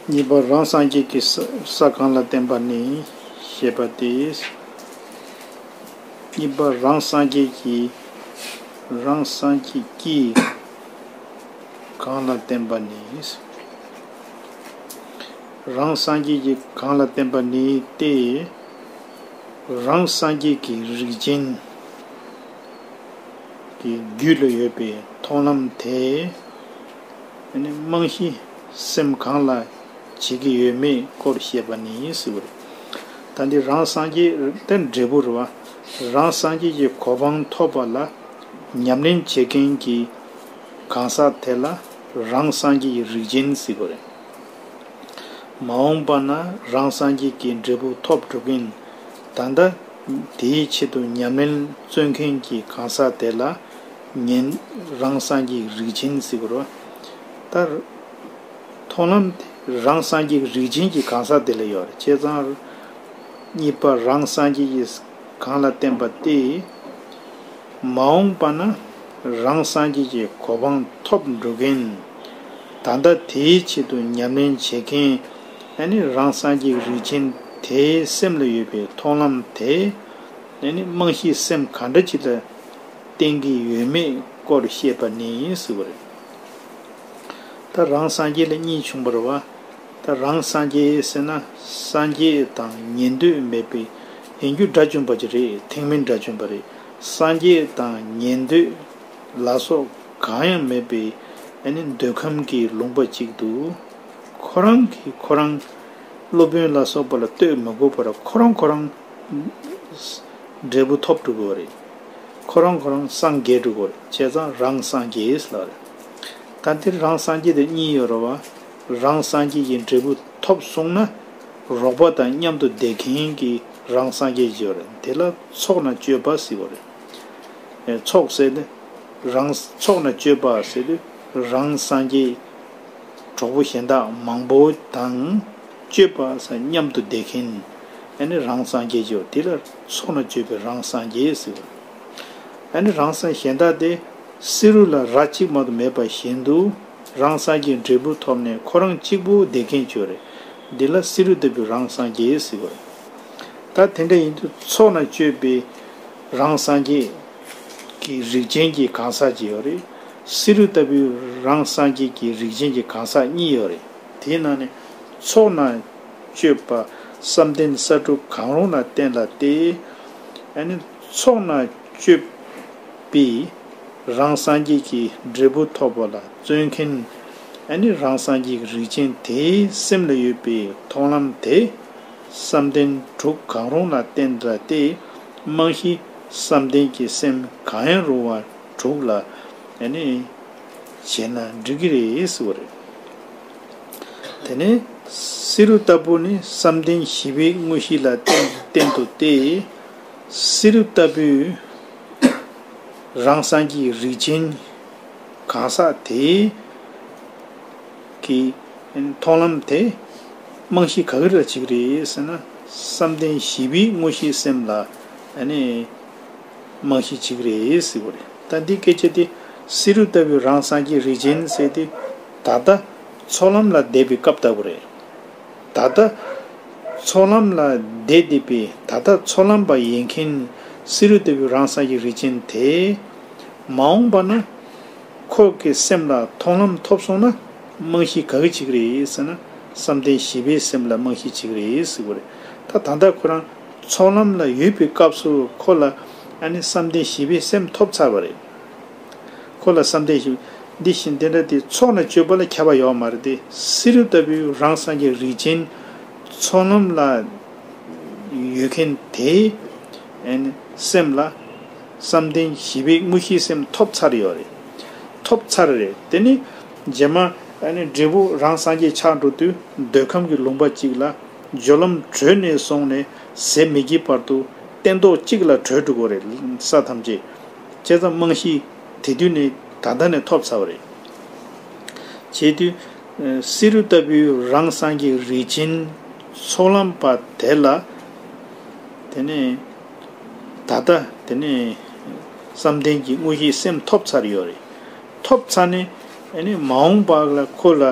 གཉིས་པ་རང་སངས་རྒྱས་ཀྱི་ས་གང་ལ་བརྟེན་པ་ནི་ཞེས་པ་སྟེ། གཉིས་པ་རང་སངས་རྒྱས་ཀྱི་རང་སངས་རྒྱས་ཀྱིས་གང་ལ་བརྟེན་པ་ནི། རང་སངས་རྒྱས་ཀྱི་གང་ལ་བརྟེན་པ་ནི་སྟེ། རང་སངས་རྒྱས་ཀྱི་རིགས་ཅན། གི་རྒྱུད་ལ་ཡོད་པའི་མཐོང་ལམ་དེས་རྨང་གཞི་སེམས་གང་ལ་བྱེད་ཀྱི་ཡོད་མེད་སྐོར་བཤད་པ་ནི་ཟེར་བ་རེད། ད་འདི་རང་སངས་རྒྱས་དེ་འབྲས་བུ་རེད་བ། རང་སངས་རྒྱས་ཀྱི་གོ་འཕང་ཐོབ་པ་ལ་ཉམས་ལེན་བྱེད་མཁན་གྱི་གང་ཟག་དེ་ལ་རང་སངས་རྒྱས་ཀྱི་རིགས་ཅན་ཟེར་བ་རེད། མ་འོངས་པ་ན་རང་སངས་རྒྱས་ཀྱི་འབྲས་བུ་ཐོབ་འགྲོ་མཁན་ད་ལྟ། དེའི་ཆེད་དུ་ཉམས་ལེན་བརྩོན་མཁན་གྱི་གང་ཟག་དེ་ལ་ཉན་རང་སངས་རྒྱས་ཀྱི་རིགས་ཅན་ཟེར་བར་ལྟར། མཐོང་ལམ་རང་སངས་རྒྱས་ཀྱི་རིགས་ཅན་གྱི་གང་ཟག་དེ་ལ་ཡོད་པར་བྱས་ཙང། གཉིས་པ་རང་སངས་རྒྱས་ཀྱི་གང་ལ་བརྟེན་པ་སྟེ། མ་འོངས་པ་ན་རང་སངས་རྒྱས་ཀྱི་གོ་འཕང་ཐོབ་འགྲོ་མཁན། ད་ལྟ་དེའི་ཆེད་དུ་ཉམས་ལེན་བྱེད་མཁན། ཨེ་ནི་རང་སངས་རྒྱས་རིན་ཆེན་དེའི་སེམས་ལ་ཡོད་པའི་མཐོང་ལམ་དེ་ཨེ་ནི་རྨང་གཞིའི་སེམས་ག་འདྲ་ཅིག་ལ་བརྟེན་གྱི་ཡོད་མེད་སྐོར་བཤད་པ་ནི་སྲིད་པ་རེད། ད་རང་སངས་རྒྱས་ལ་གཉིས་བྱུང་བར་བ། ད་རང་སངས་རྒྱས་ཟེར་ན་སངས་རྒྱས་དང་ཉན་འདོད་མེད་པའི་ཡན་རྒྱུ་དགྲ་བཅོམ་པ་ཅིག་རེད་ཐེག་དམན་དགྲ་བཅོམ་པ་རེད་སངས་རྒྱས་དང་ཉན་འདོད་ལ་སོགས་གང་ཡང་མེད་པའི་ཨེ་ནི་འདོད་ཁམས་ཀྱི་ལུང་པ་ཅིག་ཏུ། ཁོ་རང་གིས་ཁོ་རང་སློབ་དཔོན་ལ་སོགས་པ་ལ་བསྟོད་མི་དགོས་པར་ཁོ་རང་ཁོ་རང་འབྲས་བུ་ཐོབ་འགྲོ་གི་རེད། ཁོ་རང་ཁོ་རང་སངས་རྒྱས་འགྲོ་གི་རེད་བྱས་ཙང་རང་སངས་རྒྱས་ལགས་རེད། ད་འདིར་རང་སངས་རྒྱས་དང་གཉིས་ཡོད་རེད་བ། རང་སངས་རྒྱས་ཀྱི་འབྲས་བུ་ཐོབ་སོང་ན། རོགས་པ་དང་མཉམ་དུ་བསྡད་མཁན་གྱི་རང་སངས་རྒྱས་བྱེད་བ་རེད་དེ་ལ་ཚོགས་ན་སྤྱོད་པ་ཟེར་བ་རེད། ཚོགས་ཟེར་ནི་རང་ཚོགས་ན་སྤྱོད་པ་ཟེར་དུས་རང་སངས་རྒྱས། གྲོགས་པོ་གཞན་དག་མང་པོ་དང། སྤྱོད་པ་ས་མཉམ་དུ་བསྡད་མཁན། ཨ་ནི་རང་སངས་རྒྱས་ཀྱིའོ་དེ་ལ་སོགས་ན་སྤྱོད་པའི་རང་སངས་རྒྱས་ཟེར། ཨ་ནི་རང་སངས་གཞན་དག་སྟེ། བསེ་རུ་ལ་ར་གཅིག་མ་དུ་མེད་པ་བཞིན་དུ། རང་སངས་རྒྱས་འབྲས་བུ་ཐོབ་ནས་ཁོ་རང་གཅིག་པུ་བསྡད་མཁན་སྤྱོད་རེད། དེ་ལ་བསེ་རུ་ལྟ་བུའི་རང་སངས་རྒྱས་ཟེར། ད་དེ་འདྲ་ཡིན་དུས་ཚོགས་ན་སྤྱོད་པའི་རང་སངས་རྒྱས། ཀྱི་རིགས་ཅན་གྱི་གང་ཟག་ཅིག་ཡོད་རེད། བསེ་རུ་ལྟ་བུའི་རང་སངས་རྒྱས་ཀྱི་རིགས་ཅན་གྱི་གང་ཟག་གཉིས་ཡོད་རེད། དེས་ན་ནི། ཚོགས་ནང་སྤྱོད་པ་བསམ་གཏན་ས་དྲུག་གང་རུང་ལ་བརྟེན་ལ་སྟེ། ཚོགས་ནང་སྤྱོད་པས་རང་སངས་རྒྱས་ཀྱི་འབྲས་བུ་ཐོབ་པ་ལ་བརྩོན་མཁན། རང་སངས་རྒྱས་ཀྱི་རིགས་ཅན་དེའི་སེམས་ལ་ཡོད་པའི་མཐོང་ལམ་དེ། བསམ་གཏན་དྲུག་གང་རུང་ལ་བརྟེན་འདྲ་སྟེ། རྨང་གཞི་བསམ་གཏན་གྱི་སེམས་གང་ཡང་རུང་བ་དྲུག་ལ་བྱས་ན་འགྲིག་གི་རེད་ཟེར་བ་རེད། དེ་ནས་བསེ་རུ་ལྟ་བུ་ནི་བསམ་གཏན་བཞི་པའི་དངོས་གཞི་ལ་བརྟེན་འདུག་སྟེ། བསེ་རུ་ལྟ་བུས་རང་སངས་ཀྱི་རིགས་ཅན་གང་ཟག་དེའི། གི་མཐོང་ལམ་དེ་རྨང་གཞི་ག་རེ་ར་བྱེད་ཀྱི་རེད་ཟེར་ན་བསམ་གཏན་བཞི་པའི་དངོས་གཞིའི་སེམས་ལ་རྨང་གཞི་བྱེད་ཀྱི་རེད་ཟེར་བ་རེད། ད་འདི་སྐད་ཆ་དེ་བསེ་རུ་ལྟ་བུའི་རང་སངས་རྒྱས་རིགས་ཅན་ཟེར་ཏེ་ད་ལྟ་ཚོགས་ལམ་ལ་བསྡད་པའི་སྐབས་ལྟ་བུ་རེད། ད་ལྟ་ཚོགས་ལམ་ལ་བསྡད་བསྡད་པའི་ད་ལྟ་ཚོགས་ལམ་པ་ཡིན་མཁན་བསེ་རུ་ལྟ་བུའི་རང་སངས་རྒྱས་རིགས་ཅན་དེས་མ་འོངས་པ་ན། ཁོག་གི་སེམས་ལ་མཐོང་ལམ་ཐོབ་སོང་ན་རྨང་གཞི་ག་གི་བྱེད་གི་རེད་ཟེར་ན་བསམ་གཏན་བཞི་པའི་སེམས་ལ་རྨང་གཞི་བྱེད་གི་རེད་ཟེར་གི་རེད་ད་ད་ལྟ་ཁོ་རང་ཚོགས་ལམ་ལ་ཡོད་པའི་སྐབས་སུ་ཁོ་ལ་ཨ་ནི་བསམ་གཏན་བཞི་པའི་སེམས་ཐོབ་ཚར་བ་རེད་ཁོ་ལ་བསམ་གཏན་བཞི་འདི་བཞིན་དེ་འདྲ་དེ་ཚོགས་ལ་སྤྱོད་པ་ལ་ཁྱབ་པ་ཡོག་མ་རེད་དེ་བསེ་རུ་ལྟ་བུའི་རང་སངས་རྒྱས་རིགས་ཅན་ཚོགས་ལམ་ལ་ཡོད་མཁན་དེའི་ཨ་ནི་སེམས་ལ། བསམ་གཏན་བཞི་པའི་དངོས་གཞིའི་སེམས་ཐོབ་ཚར་ཡོད་རེད། ཐོབ་ཚར་རེད་དེ་ནི། རྗེས་མ། འབྲས་བུ་རང་སངས་རྒྱས་ཆགས་འགྲོ་དུས་འདོད་ཁམས་ཀྱི་ལུང་པ་གཅིག་ལ། སྦྱོར་ལམ་བགྲོད་ནས་སོང་ནས་ཟད་མི་སྐྱེའི་བར་དུ། སྟན་ཐོག་གཅིག་ལ་བགྲོད་འགྲོ་དགོས་རེད། ས་ཐམས་ཅད། བཅད་མཚམས་རྨང་གཞི། དེ་དུས་ནས་ད་ལྟ་ནས་ཐོབ་ཚར་བ་རེད། བྱས་དུས། བསེ་རུ་ལྟ་བུའི་རང་སངས་རྒྱས་རིགས་ཆེན། ཚོགས་ལམ་པ་དེ་ལ། དེ་ནས། ད་ལྟ་དེ་ནས་བསམ་གཏན་གྱི་དངོས་གཞིའི་སེམས་ཐོབ་ཚར་ཡོད་རེད། ཐོབ་ཚར་ནས་མ་འོངས་པ་ལ་ཁོ་ལ་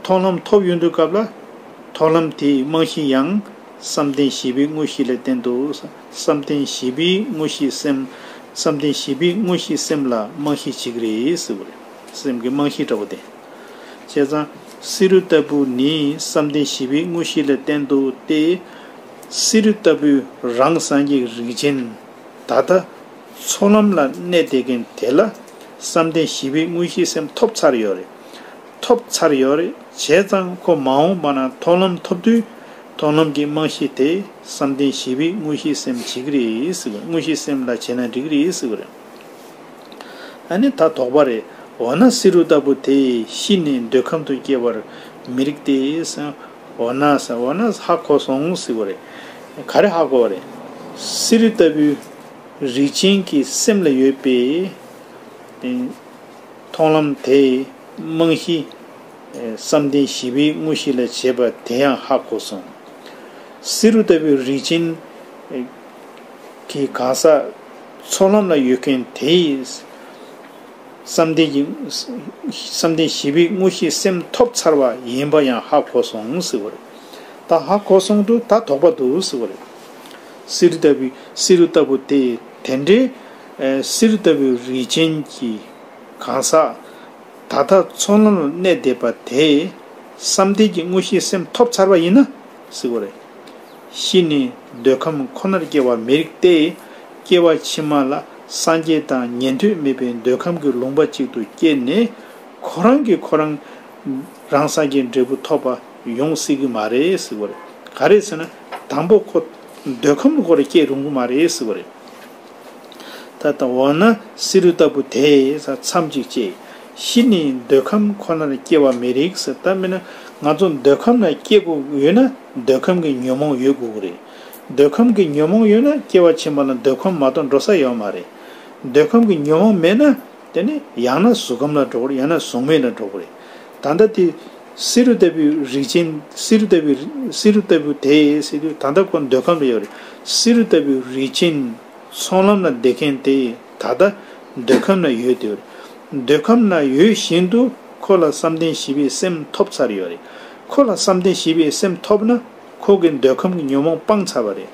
ཐོག་ལམ་ཐོབ་ཡོང་དུས་སྐབས་ལ་ཐོག་ལམ་དེའི་རྨང་གཞི་ཡང་བསམ་གཏན་བཞི་པའི་དངོས་གཞི་ལས་བསྟན་འདུག་བསམ་གཏན་བཞི་པའི་དངོས་གཞིའི་སེམས་བསམ་གཏན་བཞི་པའི་དངོས་གཞིའི་སེམས་ལ་རྨང་གཞི་གཅིག་རེད་ཟེར་བ་རེད། སེམས་ཀྱི་རྨང་གཞི་འདྲ་བོ་བསྟན། བྱས་ཙང་བསེ་རུ་ལྟ་བུ་ནི་བསམ་གཏན་བཞི་པའི་དངོས་གཞི་ལས་བསྟན་འདུག་སྟེ། བསེ་རུ་ལྟ་བུའི་རང་བསམ་ཡིག་རིགས་ཅན། ད་ལྟ་འཚོ་ལམ་ལ་གནས་བསྡད་མཁན་དེ་ལ་བསམ་གཏན་ཞི་བའི་དངོས་གཞིའི་སེམས་ཐོབ་ཚར་ཡོད་རེད། ཐོབ་ཚར་ཡོད་རེད་བྱས་ཙང་ཁོ་མ་འོངས་པ་ན་མཐོང་ལམ་ཐོབ་དུས་མཐོང་ལམ་གྱི་རྨང་གཞི་དེ་བསམ་གཏན་ཞི་བའི་དངོས་གཞིའི་སེམས་བྱེད་ཀྱི་རེད་དངོས་གཞིའི་སེམས་ལ་བྱས་ན་འགྲིག་གི་རེད། ཨ་ནི་ད་དོགས་པ་རེད་འོ་ན་བསེ་རུ་ལྟ་བུ་དེ་ཤི་ནས་འདོད་ཁམས་དུ་སྐྱེ་བར་མི་རིགས་ཏེ། འོ་ན་ས་འོ་ན་ཧ་གོ་སོང་ཟིག་བ་རེད། ག་རེ་ཧ་གོ་བ་རེད། གསེར་རི་ལྟ་བུའི་རིགས་ཅན་གྱི་སེམས་ལ་ཡོད་པའི་མཐོང་ལམ་དེ་རྨང་གཞི་བསམ་གཏན་བཞི་པའི་དངོས་གཞི་ལ་བྱེད་པ་དེ་ཡང་ཧ་གོ་སོང། གསེར་རུ་ལྟ་བུའི་རིགས་ཅན་གྱི་གང་ཟག་ཚོགས་ལམ་ལ་ཡོད་མཁན་དེའི། བསམ་གཏན་གྱི། བསམ་གཏན་བཞི་པའི་དངོས་གཞིའི་སེམས་ཐོབ་ཚར་བ་ཡིན་པ་ཡང་ཧ་གོ་སོང་ཟེར་བ་རེད། ད་ཧ་གོ་སོང་དུས་ད་དོགས་པ་འདུག་ཟེར་བ་རེད། བསེ་རུ་ལྟ་བུའི་བསེ་རུ་ལྟ་བུ་དེ་དེ་འདྲའི། བསེ་རུ་ལྟ་བུའི་རིས་ཅན་གྱི། གང་ཟག། ད་ལྟ་ཚོགས་ལམ་ལ་གནས་བསྡད་པ་དེས། བསམ་གཏན་གྱི་དངོས་གཞིའི་སེམས་ཐོབ་ཚར་བ་ཡིན་ན། ཟེར་བ་རེད། གཞི་ནི་འདོད་ཁམས་ཁོ་ནར་སྐྱེ་བ་མི་རིགས་ཏེ། སྐྱེ་བ་ཕྱི་མ་ལ་སངས་རྒྱས་དང་ཉན་ཐོས་མེད་པའི་འདོད་ཁམས་ཀྱི་ལུང་པ་གཅིག་ཏུ་སྐྱེས་ནས། ཁོ་རང་གིས་ཁོ་རང་རང་སངས་རྒྱས་འབྲས་བུ་ཐོབ་པ་ཡོང་སྲིད་ཀྱི་མ་རེད་ཟེར་བ་རེད། ག་རེད་ཟེར་ན་དང་པོ་ཁོ་འདོད་ཁམས་ལ་འཁོར་རེ་སྐྱེ་རུང་གི་མ་རེད་ཟེར་བ་རེད། ད་ལྟ་འོ་ན་བསེ་རུ་ལྟ་བུ་དེས་ས་མཚམས་གཅིག་བཅད། གཞི་ནས་འདོད་ཁམས་ཁོ་ནར་སྐྱེ་བ་མི་རིགས་ཟེར་ཐབས་མེད་ན་ང་ཚོ་འདོད་ཁམས་ལ་སྐྱེ་དགོས་ཀྱི་ཡོད་ན་འདོད་ཁམས་ཀྱི་ཉོན་མོངས་ཡོད་དགོས་ཀྱི་རེད། འདོད་ཁམས་ཀྱི་ཉོན་མོངས་ཡོད་ན་སྐྱེ་བ་ཕྱི་མ་ལ་འདོད་ཁམས་མ་གཏོགས་འགྲོ་ས་ཡོད་མ་རེད། འདོད་ཁམས་ཀྱི་ཉོན་མོངས་མེད་ན། དེ་ནི་ཡང་ན་གཟུགས་ཁམས་ལ་འགྲོ་གི་རེད་ཡང་ན་གཟུགས་མེད་ལ་འགྲོ་གི་རེད། ད་ལྟ་དེ། བསེ་རུ་ལྟ་བུའི་རིགས་ཅན། བསེ་རུ་ལྟ་བུའི། བསེ་རུ་ལྟ་བུ་དེ། སེ་རུ། ད་ལྟ་ཁོ་འདོད་ཁམས་ལ་ཡོད་རེད། བསེ་རུ་ལྟ་བུའི་རིགས་ཅན། ཚོང་ལམ་ལ་འདེད་མཁན་དེ། ད་ལྟ། འདོད་ཁམས་ལ་ཡོད་དེ། འདོད་ཁམས་ལ་ཡོད་བཞིན་དུ། ཁོ་ལ་བསམ་གཏན་བཞི་པའི་སེམས་ཐོབ་ཚར་ཡོད་རེད། ཁོ་ལ་བསམ་གཏན་བཞི་པའི་སེམས་ཐོབ་ན། ཁོ་གིས་འདོད་ཁམས་ཀྱི་ཉོན་མོངས་སྤང་ཚར་བ་རེད།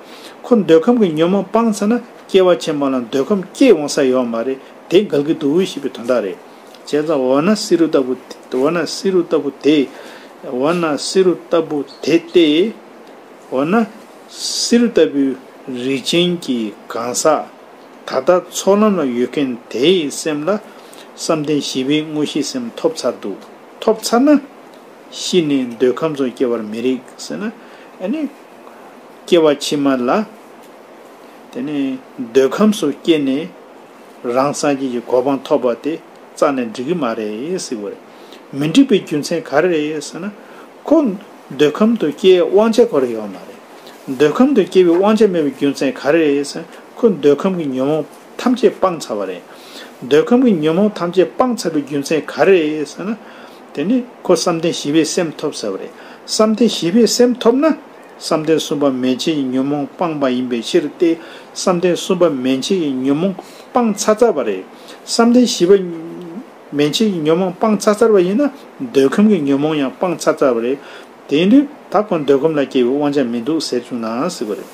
ཁོ་འདོད་ཁམས་ཀྱི་ཉོན་མོངས་སྤང་ཚར་ན་སྐྱེ་བ་ཆེན་པོ་ལ་འདོད་ཁམས་སྐྱེས་འོང་ས་ཡོད་བ་མ་རེད་དེ་དགག་གི་འདུག་འོས་ཤེས་པའི་དོན་དག་རེད། བྱས་ཙང་འོ་ན་བསེ་རུ་ལྟ་བུ། འོ་ན་བསེ་རུ་ལྟ་བུ་དེ། འོ་ན་བསེ་རུ་ལྟ་བུ་དེ་སྟེ། འོ་ན། བསེ་རུ་ལྟ་བུའི་རིགས་ཅན་གྱི་གང་ཟག། ད་ལྟ་ཚོགས་ལམ་ལ་ཡོད་མཁན་དེའི་སེམས་ལ། བསམ་གཏན་བཞི་པའི་དངོས་གཞིའི་སེམས་ཐོབ་ཚར་འདུག་ཐོབ་ཚར་ན། ཤི་ནས་འདོད་ཁམས་སུ་སྐྱེ་བར་མི་རིགས་ཟེར་ན། ཨ་ནི། སྐྱེ་བ་ཕྱི་མ་ལ། དེ་ནས་འདོད་ཁམས་སུ་སྐྱེས་ནས། རང་སངས་རྒྱས་ཀྱི་གོ་འཕང་ཐོབ་པ་དེ་རྩ་ནས་འགྲིག་གི་མ་རེད་ཟེར་གི་རེད། མི་འགྲིག་པའི་རྒྱུ་མཚན་ག་རེ་རེད་ཟེར་ན། ཁོ། འདོད་ཁམས་དུ་སྐྱེ་བའི་དབང་ཆ་ཁོ་རེ་ཡོད་མ་རེད། འདོད་ཁམས་དུ་སྐྱེ་བའི་དབང་ཆ་མེད་པའི་རྒྱུ་མཚན་ག་རེ་རེད་ཟེར་ན། ཁོ་འདོད་ཁམས་ཀྱི་ཉོན་མོངས་ཐམས་ཅད་སྤངས་ཚར་བ་རེད། འདོད་ཁམས་ཀྱི་ཉོན་མོངས་ཐམས་ཅད་སྤངས་ཚར་བའི་རྒྱུ་མཚན་ག་རེ་རེད་ཟེར་ན། དེ་ནི་ཁོ་བསམ་གཏན་བཞི་པའི་སེམས་ཐོབ་ཟེར་བ་རེད། བསམ་གཏན་བཞི་པའི་སེམས་ཐོབ་ན། བསམ་གཏན་གསུམ་པ་མན་ཆད་ཀྱི་ཉོན་མོངས་སྤངས་པ་ཡིན་པའི་ཕྱིར་ཏེ། བསམ་གཏན་གསུམ་པ་མན་ཆད་ཀྱི་ཉོན་མོངས་སྤངས་ཚར་ཚར་བ་རེད། བསམ་གཏན་བཞི་པ་མན་ཆད་ཀྱི་ཉོན་མོངས་སྤངས་ཚར་ཚར་བ་ཡིན་ན། འདོད་ཁམས་ཀྱི་ཉོན་མོངས་ཡང་སྤངས་ཚར་ཚར་བ་རེད། དེ་འདྲའི་ད་ཁོ་འདོད་ཁམས་ལ་སྐྱེ་བའི་དབང་ཆ་མི་འདུག་ཟེར་བཅུག་ན་སྲིད་པ་རེད།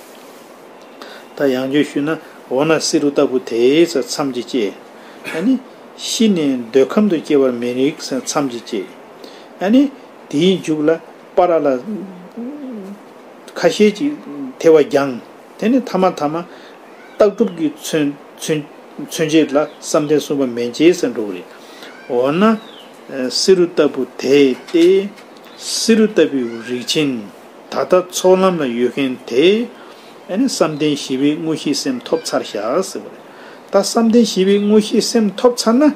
ད་ཡང་བརྗོད་ཞུས་ན། འོ་ན་བསེ་རུ་ལྟ་བུ་དེའི་ས་མཚམས་ཀྱི་སྐྱེས་ཨ་ནི། ཤི་ནས་འདོད་ཁམས་དུ་སྐྱེ་བར་མི་རིགས་མཚམས་ཀྱིས་བཅད། ཨ་ནི། དེའི་མཇུག་ལ། པ་ར་ལ། ཁ་ཤས་ཀྱིས་ཐལ་བ་བརྒྱངས། དེ་ནི་ཐ་མ་ཐ་མ། རྟགས་གྲུབ་ཀྱི་མཚོན། བྱེད་ལ་བསམ་གཏན་གསུམ་པ་མན་ཆད་སེ་འགྲོ་བ་རེད། འོ་ན། བསེ་རུ་ལྟ་བུ་དེས་ཏེ། བསེ་རུ་ལྟ་བུའི་རིགས་ཆེན། ད་ལྟ་ཚོགས་ལམ་ལ་ཡོད་མཁན་དེས། ཨ་ནི་བསམ་གཏན་བཞི་པའི་དངོས་གཞིའི་སེམས་ཐོབ་ཚར་བཞག་ཟེར་བ་རེད། ད་བསམ་གཏན་བཞི་པའི་དངོས་གཞིའི་སེམས་ཐོབ་ཚར་ན།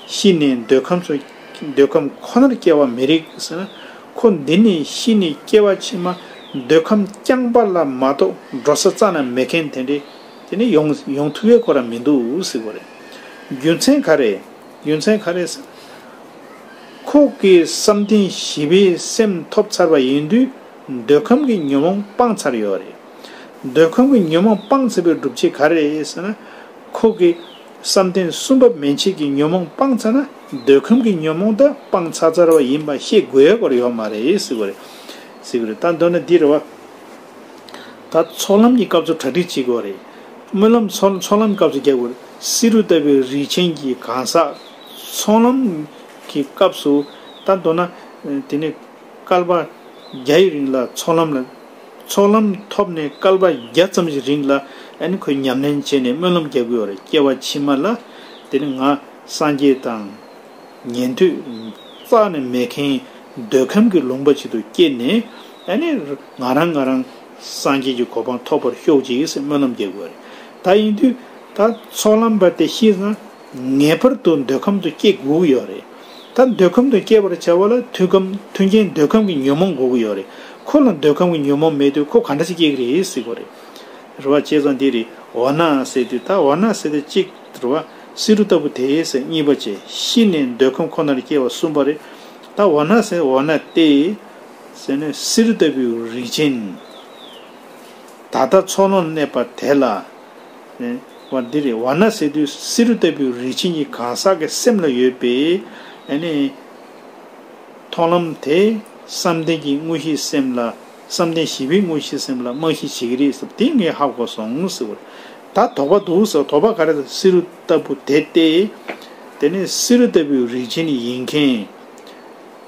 ཤི་ནས་འདོད་ཁམས་སུ། འདོད་ཁམས་ཁོ་ནར་སྐྱེ་བ་མི་རིགས་ཟེར་ན། ཁོ་འདི་ནས་ཤི་ནས་སྐྱེ་བ་ཕྱི་མ་འདོད་ཁམས་རྐྱང་པ་ལ་མ་གཏོགས་འགྲོ་ས་རྩ་ན་མེད་མཁན་དེ་འདྲས་དེ་ནི་ཡོང་ཡོང་ཐུབ་ཡས་ཁོ་ར་མི་འདུག་ཟིག་པ་རེད། རྒྱུ་མཚན་ག་རེད་རྒྱུ་མཚན་ག་རེད་ཟེར་ན། ཁོ་གི་བསམ་གཏན་བཞི་པའི་སེམས་ཐོབ་ཚར་བ་ཡིན་དུས་འདོད་ཁམས་ཀྱི་ཉོན་མོངས་སྤངས་ཚར་ཡོད་རེད། འདོད་ཁོ་མོས་ཉོན་མོངས་སྤངས་ཚར་བའི་སྒྲུབ་བྱེད་ག་རེ་ཟེར་ན། ཁོ་གི། བསམ་གཏན་གསུམ་པ་མན་ཆད་ཀྱི་ཉོན་མོངས་སྤངས་ཚར་ན་འདོད་ཁམས་ཀྱི་ཉོན་མོངས་དག་སྤངས་ཚར་ཚར་བ་ཡིན་པ་ཤེས་དགོས་སྐོར་ཡོག་མ་རེད་ཟེར་གོ་རེད། ཟེར་གོ་རེད་ད་མདོར་ན་འདི་རེད་བ། ད་ཚོགས་ལམ་གྱི་སྐབས་སུ་གྲ་སྒྲིག་བྱེད་དགོས་རེད། སྨོན་ལམ་ཚོགས་ལམ་སྐབས་སུ་རྒྱག་དགོས་རེད་བསེ་རུ་ལྟ་བུའི་རིགས་ཆེན་གྱི་གང་ཟག། ཚོགས་ལམ་གྱི་སྐབས་སུ། ད་མདོར་ན། དེ་ནས་སྐལ་པ་བརྒྱ་ཡི་རིང་ལ་ཚོགས་ལམ་ལ། ཚོགས་ལམ་ཐོབ་ནས་སྐལ་པ་བརྒྱ་ཙམ་ཞིག་རིང་ལ་ཨན་ཁོས་ཉམས་ལེན་བྱས་ནས་སྨོན་ལམ་རྒྱག་དགོས་བར་སྐྱེ་བ་ཕྱི་མ་ལ་དེ་ནི་ང་སངས་རྒྱས་དང། ཉན་ཐོས་རྩ་ནས་མེད་མཁན་འདོད་ཁམས་ཀྱི་ལུང་པ་ཞིག་ཏུ་སྐྱེས་ནས་ཨ་ནི་ང་རང་ང་རང་སངས་རྒྱས་ཀྱི་གོ་འཕང་ཐོབ་པར་ཤོག་ཅིག་ཅེས་སྨོན་ལམ་རྒྱག་དགོས་བ་རེད། ད་ཡིན་དུས་ད་ཚོགས་ལམ་བར་དེ་ཤེས་ན། ངེས་པར་དུ་འདོད་ཁམས་དུ་སྐྱེ་དགོས་ཀྱི་ཡོད་རེད། ད་འདོད་ཁམས་དུ་སྐྱེ་བར་བྱ་བ་ལ་མཐུན་གམ་མཐུན་རྐྱེན་འདོད་ཁམས་ཀྱི་ཉོན་མོངས་དགོས་ཀྱི་ཡོད་རེད། ཁོ་ལ་འདོད་ཁམས་ཀྱི་ཉོན་མོངས་མེད་དུས་ཁོ་ག་འདྲ་ཞིག་སྐྱེ་གི་རེད་ཟེར་གོ་རེད། རེད་བ། བྱས་ཙང་འདི་རེད་འོ་ན་ཟེར་དུས་ད་འོ་ན་ཟེར་ཏེ་གཅིག། རེད་བ། བསེ་རུ་ལྟ་བུ་དེ་ཟེར་གཉིས་པ་བྱས་གཤིས་ནས་འདོད་ཁམས་ཁོ་ནར་སྐྱེ་བ་གསུམ་པ་རེད། ད་འོ་ན་ཟེར་འོ་ན་ཏེ། ཟེར་ནས་བསེ་རུ་ལྟ་བུའི་རིགས་ཅན། ད་ལྟ་འཚོགས་ལོངས་གནས་པ་དེ་ལ། བ་འདི་རེད་བ་ན་སེ་དུས་སེ་རུ་ལྟ་བུའི་རིག་བྱེད་གཉིས་གང་ཟག་གི་སེམས་ལ་ཡོད་པས། མཐོང་ལམ་དེས་བསམ་གཏན་གྱི་དངོས་གཞི་སེམས་ལ་བསམ་གཏན་བཞི་པའི་དངོས་གཞི་སེམས་ལ་རྨང་གཞི་བྱེད་ཀྱི་རེད་ཟེར་བ་དེ་ངས་ཧ་གོ་སོང་ཟེར་བ་རེད། ད་དོགས་པ་འདུག་ཟེར་བ་དོགས་པ་ག་རེ་སེ་རུ་ལྟ་བུ་དེ་སྟེ། དེ་ནི་སེ་རུ་ལྟ་བུའི་རིག་བྱེད་ཡིན་མཁན།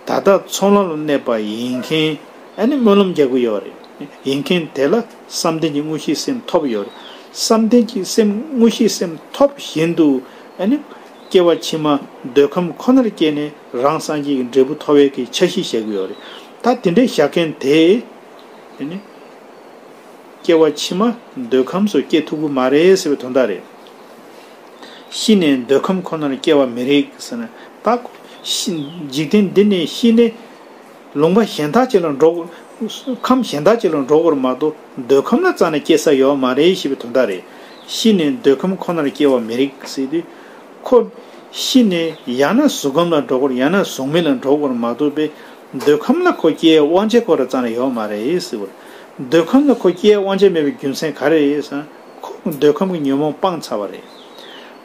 ད་ལྟ་ཚོང་ལམ་ལ་གནས་པ་ཡིན་མཁན། སྨོན་ལམ་རྒྱག་གི་ཡོད་རེད་ཡིན་མཁན་དེ་ལ། བསམ་གཏན་གྱི་དངོས་གཞིའི་སེམས་ཐོབ་ཡོད། བསམ་གཏན་གྱི་སེམས་དངོས་གཞིའི་སེམས་ཐོབ་བཞིན་དུ། སྐྱེ་བ་ཕྱི་མ་འདོད་ཁམས་ཁོ་ནར་སྐྱེས་ནས་རང་སངས་རྒྱས་ཀྱི་འབྲས་བུ་ཐོབ་བས་ཀྱི་འཆར་གཞི་བཞག་གི་ཡོད། ད་དེ་འདྲའི་བཞག་མཁན་དེས། སྐྱེ་བ་ཕྱི་མ་འདོད་ཁམས་སུ་སྐྱེ་ཐུབ་ཀྱི་མ་རེད་ཟེར་བའི་དོན་དག་རེད། ཤི་ནས་འདོད་ཁམས་ཁོ་ནར་སྐྱེ་བ་མི་རིགས། འཇིག་རྟེན་འདི་ནས་ཤི་ནས། ལུང་པ་གཞན་དག་ཅི་ལ་འགྲོ། ཁམས་གཞན་དག་ཅི་ལ་འགྲོ་བར་མ་དོ་འདོད་ཁམས་ལ་རྩ་ནས་སྐྱེ་ས་ཡོད་མ་རེད་ཞེས་པའི་དོན་དག་རེད། ཤི་ནས་འདོད་ཁམས་ཁོ་ནར་སྐྱེ་བ་མི་རིགས་སྲིད་དུས། ཁོ། ཤི་ནས་ཡང་ན་གཟུགས་ཁམས་ལ་འགྲོ་བར་ཡང་ན་གཟུགས་མེད་ལ་འགྲོ་བར་མ་དོ་པས། འདོད་ཁམས་ལ་ཁོ་སྐྱེ་ཡའི་དབང་ཆ་ཁོ་ར་རྩ་ནས་ཡོད་མ་རེད་སྲིད་པར། འདོད་ཁམས་ལ་ཁོ་སྐྱེ་ཡའི་དབང་ཆ་མེད་པའི་རྒྱུ་མཚན་ག་རེ་རེད་ཟེར་ན། ཁོ་འདོད་ཁམས་ཀྱི་ཉོན་མོངས་སྤངས་ཚར་བ་རེད།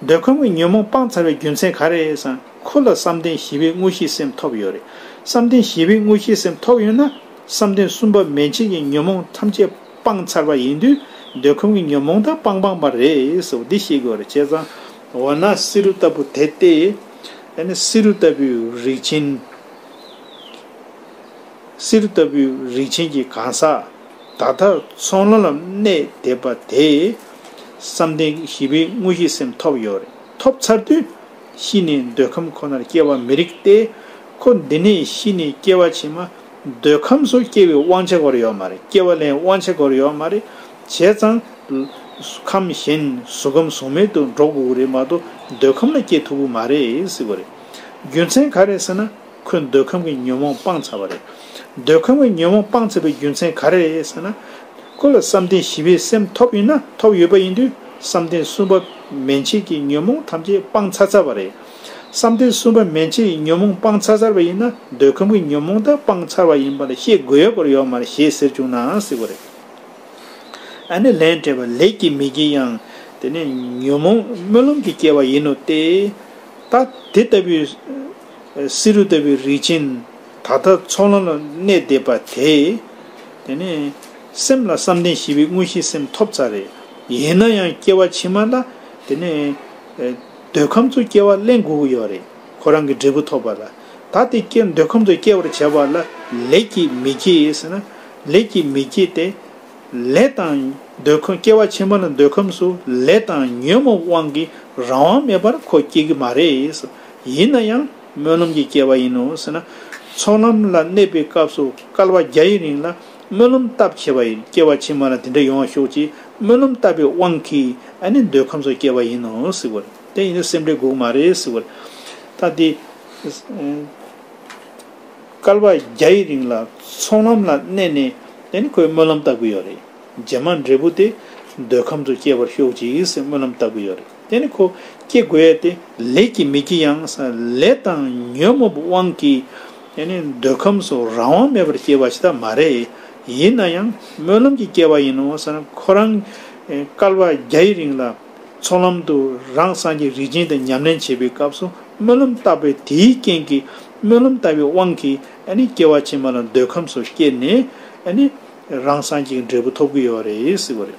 འདོད་ཁམས་ཀྱི་ཉོན་མོངས་སྤངས་ཚར་བའི་རྒྱུ་མཚན་ག་རེ་རེད་ཟེར་ན། ཁོ་ལ་བསམ་གཏན་བཞི་པའི་དངོས་གཞིའི་སེམས་ཐོབ་ཡོད་རེད། བསམ་གཏན་བཞི་པའི་དངོས་གཞིའི་སེམས་ཐོབ་ཡོད་ན། བསམ་གཏན་གསུམ་པ་མན་ཆད་ཀྱི་ཉོན་མོངས་ཐམས་ཅད་སྤངས་ཚར་བ་ཡིན་དུས། འདོད་ཁམས་ཀྱི་ཉོན་མོངས་དག་སྤང་སྤངས་པ་རེད། འདི་ཤེས་དགོས་རེད་བྱས་ཙང། འོ་ན་བསེ་རུ་ལྟ་བུ་དེ་སྟེ། ཨེ་ནས་བསེ་རུ་ལྟ་བུའི་རིགས་ཆེན། བསེ་རུ་ལྟ་བུའི་རིགས་ཆེན་གྱི་གང་ཟག་ད་ལྟ་ཚོང་ལམ་ལམ་གནས་བསྡད་པ་དེས། བསམ་གཏན་བཞི་པའི་དངོས་གཞིའི་སེམས་ཐོབ་ཡོད་རེད། ཐོབ་ཚར་དུས། ཤི་ནས་འདོད་ཁམས་ཁོ་ནར་སྐྱེ་བ་མི་རིགས་ཏེ། ཁོ་འདི་ནས་ཤི་ནས་སྐྱེ་བ་ཕྱི་མ་འདོད་ཁམས་སུ་སྐྱེ་བའི་དབང་ཆ་གོར་ཡོད་མ་རེད་སྐྱེ་བ་ལེན་དབང་ཆ་གོར་ཡོད་མ་རེད། བྱས་ཙང། ཁམས་གཞན་གཟུགས་ཁམས་གཟུགས་མེད་དུ་འགྲོ་དགོས་རེད་མ་གཏོགས་འདོད་ཁམས་ལ་སྐྱེ་ཐུབ་ཀྱི་མ་རེད། རྒྱུ་མཚན་ག་རེད་ཟེར་ན། ཁོས་འདོད་ཁམས་ཀྱི་ཉོན་མོངས་སྤངས་ཚར་བ་རེད། འདོད་ཁམས་ཀྱི་ཉོན་མོངས་སྤངས་ཚར་བའི་རྒྱུ་མཚན་ག་རེ་རེད་ཟེར་ན། ཁོ་ལ་བསམ་གཏན་བཞི་པའི་སེམས་ཐོབ་ཡོད་ན་ཐོབ་ཡོད་པ་ཡིན་དུས་བསམ་གཏན་གསུམ་པ་མན་ཆད་ཀྱི་ཉོན་མོངས་ཐམས་ཅད་སྤངས་ཚར་ཚར་བ་རེད། བསམ་གཏན་གསུམ་པ་མན་ཆད་ཡི་ཉོན་མོངས་སྤངས་ཚར་ཚར་བ་ཡིན་ན་འདོད་ཁམས་ཀྱི་ཉོན་མོངས་དག་སྤངས་ཚར་བ་ཡིན་པ་ལ་ཤེས་དགོས་ཡོད་པར་ཡོད་མ་རེད་ཞེས་ཟེར་བཅུག་ནའང་སྲིད་པ་རེད། ཨ་ནི་ལན་སྤྲད་པ་ལེགས་ཀྱི་མི་ཀྱི་ཡང་དེ་ནི་ཉོན་མོངས་སྨོན་ལམ་གྱི་སྐྱེ་བ་ཡིན་ནོ་སྟེ། ད་དེ་ལྟ་བུའི། བསེ་རུ་ལྟ་བུའི་རིགས་ཅན། ད་ལྟ་ཚོགས་ལམ་ལ་གནས་བསྡད་པ་དེས། དེ་ནས་སེམས་ལ་བསམ་གཏན་བཞི་པའི་དངོས་གཞིའི་སེམས་ཐོབ་ཚར་རེད། ཡིན་ན་ཡང་སྐྱེ་བ་ཕྱི་མ་ལ། དེ་ནས། འདོད་ཁམས་ཚོ་སྐྱེ་བ་གླེང་དགོས་ཀྱི་ཡོད་རེད། ཁོ་རང་གི་འབྲས་བུ་ཐོབ་པ་ལ། ད་དེ་སྐྱེ་འདོད་ཁམས་ཚོ་སྐྱེ་བར་བྱེད་པ་ལ་ལས་ཀྱིས་མི་སྐྱེ་ཡས་ཟེར་ན། ལས་ཀྱིས་མི་སྐྱེ་སྟེ། ལས་དང། འདོད་ཁམས་སྐྱེ་བ་ཕྱི་མ་ལ་འདོད་ཁམས་སུ་ལས་དང་ཉོན་མོངས་དབང་གིས་རང་དབང་མེད་པར་ཁོ་སྐྱེ་གི་མ་རེད། ཡིན་ན་ཡང་སྨོན་ལམ་གྱི་སྐྱེ་བ་ཡིན་ནོ་ཟེར་ན། ཚོགས་ལམ་ལ་གནས་པའི་སྐབས་སུ་སྐལ་བ་བརྒྱ་ཡི་རིང་ལ་སྨོན་ལམ་བཏབ་བྱས་པ་ཡིན་སྐྱེ་བ་ཕྱི་མ་ལ་དེ་འདྲ་ཡོང་བ་ཤོག་ཅིག་སྨོན་ལམ་བཏབ་པའི་དབང་གིས་ཨ་ནི་འདོད་ཁམས་སུ་སྐྱེ་བ་ཡིན་ནོ་ཟེར་བར་དེ་ཡིན་ན་སེམས་འགྲེལ་འགུགས་མ་རེད་ཟེར་བར། ད་དེ། སྐལ་བ་བརྒྱ་ཡི་རིང་ལ་ཚོགས་ལམ་ལ་གནས་ནས་དེ་ནི་ཁོས་སྨོན་ལམ་བཏབ་གི་ཡོད་རེད་རྗེས་མ་འབྲས་བུ་དེ་འདོད་ཁམས་སུ་སྐྱེ་བར་ཤོག་ཅིག་ཟེར་སྨོན་ལམ་བཏབ་གི་ཡོད་རེད། དེ་ནི་ཁོ་སྐྱེ་དགོས་ཡས་ཏེ། ལས་ཀྱིས་མི་སྐྱེ་ཡང་ས་ལས་དང་ཉོན་མོངས་པའི་དབང་གིས། དེ་ནི་འདོད་ཁམས་སུ་རང་དབང་མེད་པར་སྐྱེ་བ་ཞིག་དག་མ་རེད། ཡིན་ན་ཡང་སྨོན་ལམ་གྱིས་སྐྱེ་བ་ཡིན་ནོ་ཟེར་ན་ཁོ་རང། སྐལ་བ་བརྒྱ་ཡི་རིང་ལ། ཚོགས་ལམ་དུ་རང་སངས་རྒྱས་རིག་ཅན་དང་ཉམས་ལེན་བྱེད་པའི་སྐབས་སུ་སྨོན་ལམ་བཏབ་པས་དེའི་རྐྱེན་གྱིས་སྨོན་ལམ་བཏབ་པའི་དབང་གིས་སྐྱེ་བ་ཕྱི་མ་ལ་འདོད་ཁམས་སུ་སྐྱེས་ནས། རང་སངས་རྒྱས་ཀྱི་འབྲས་བུ་ཐོབ་ཀྱི་ཡོད་རེད་ཟེར་བ་རེད།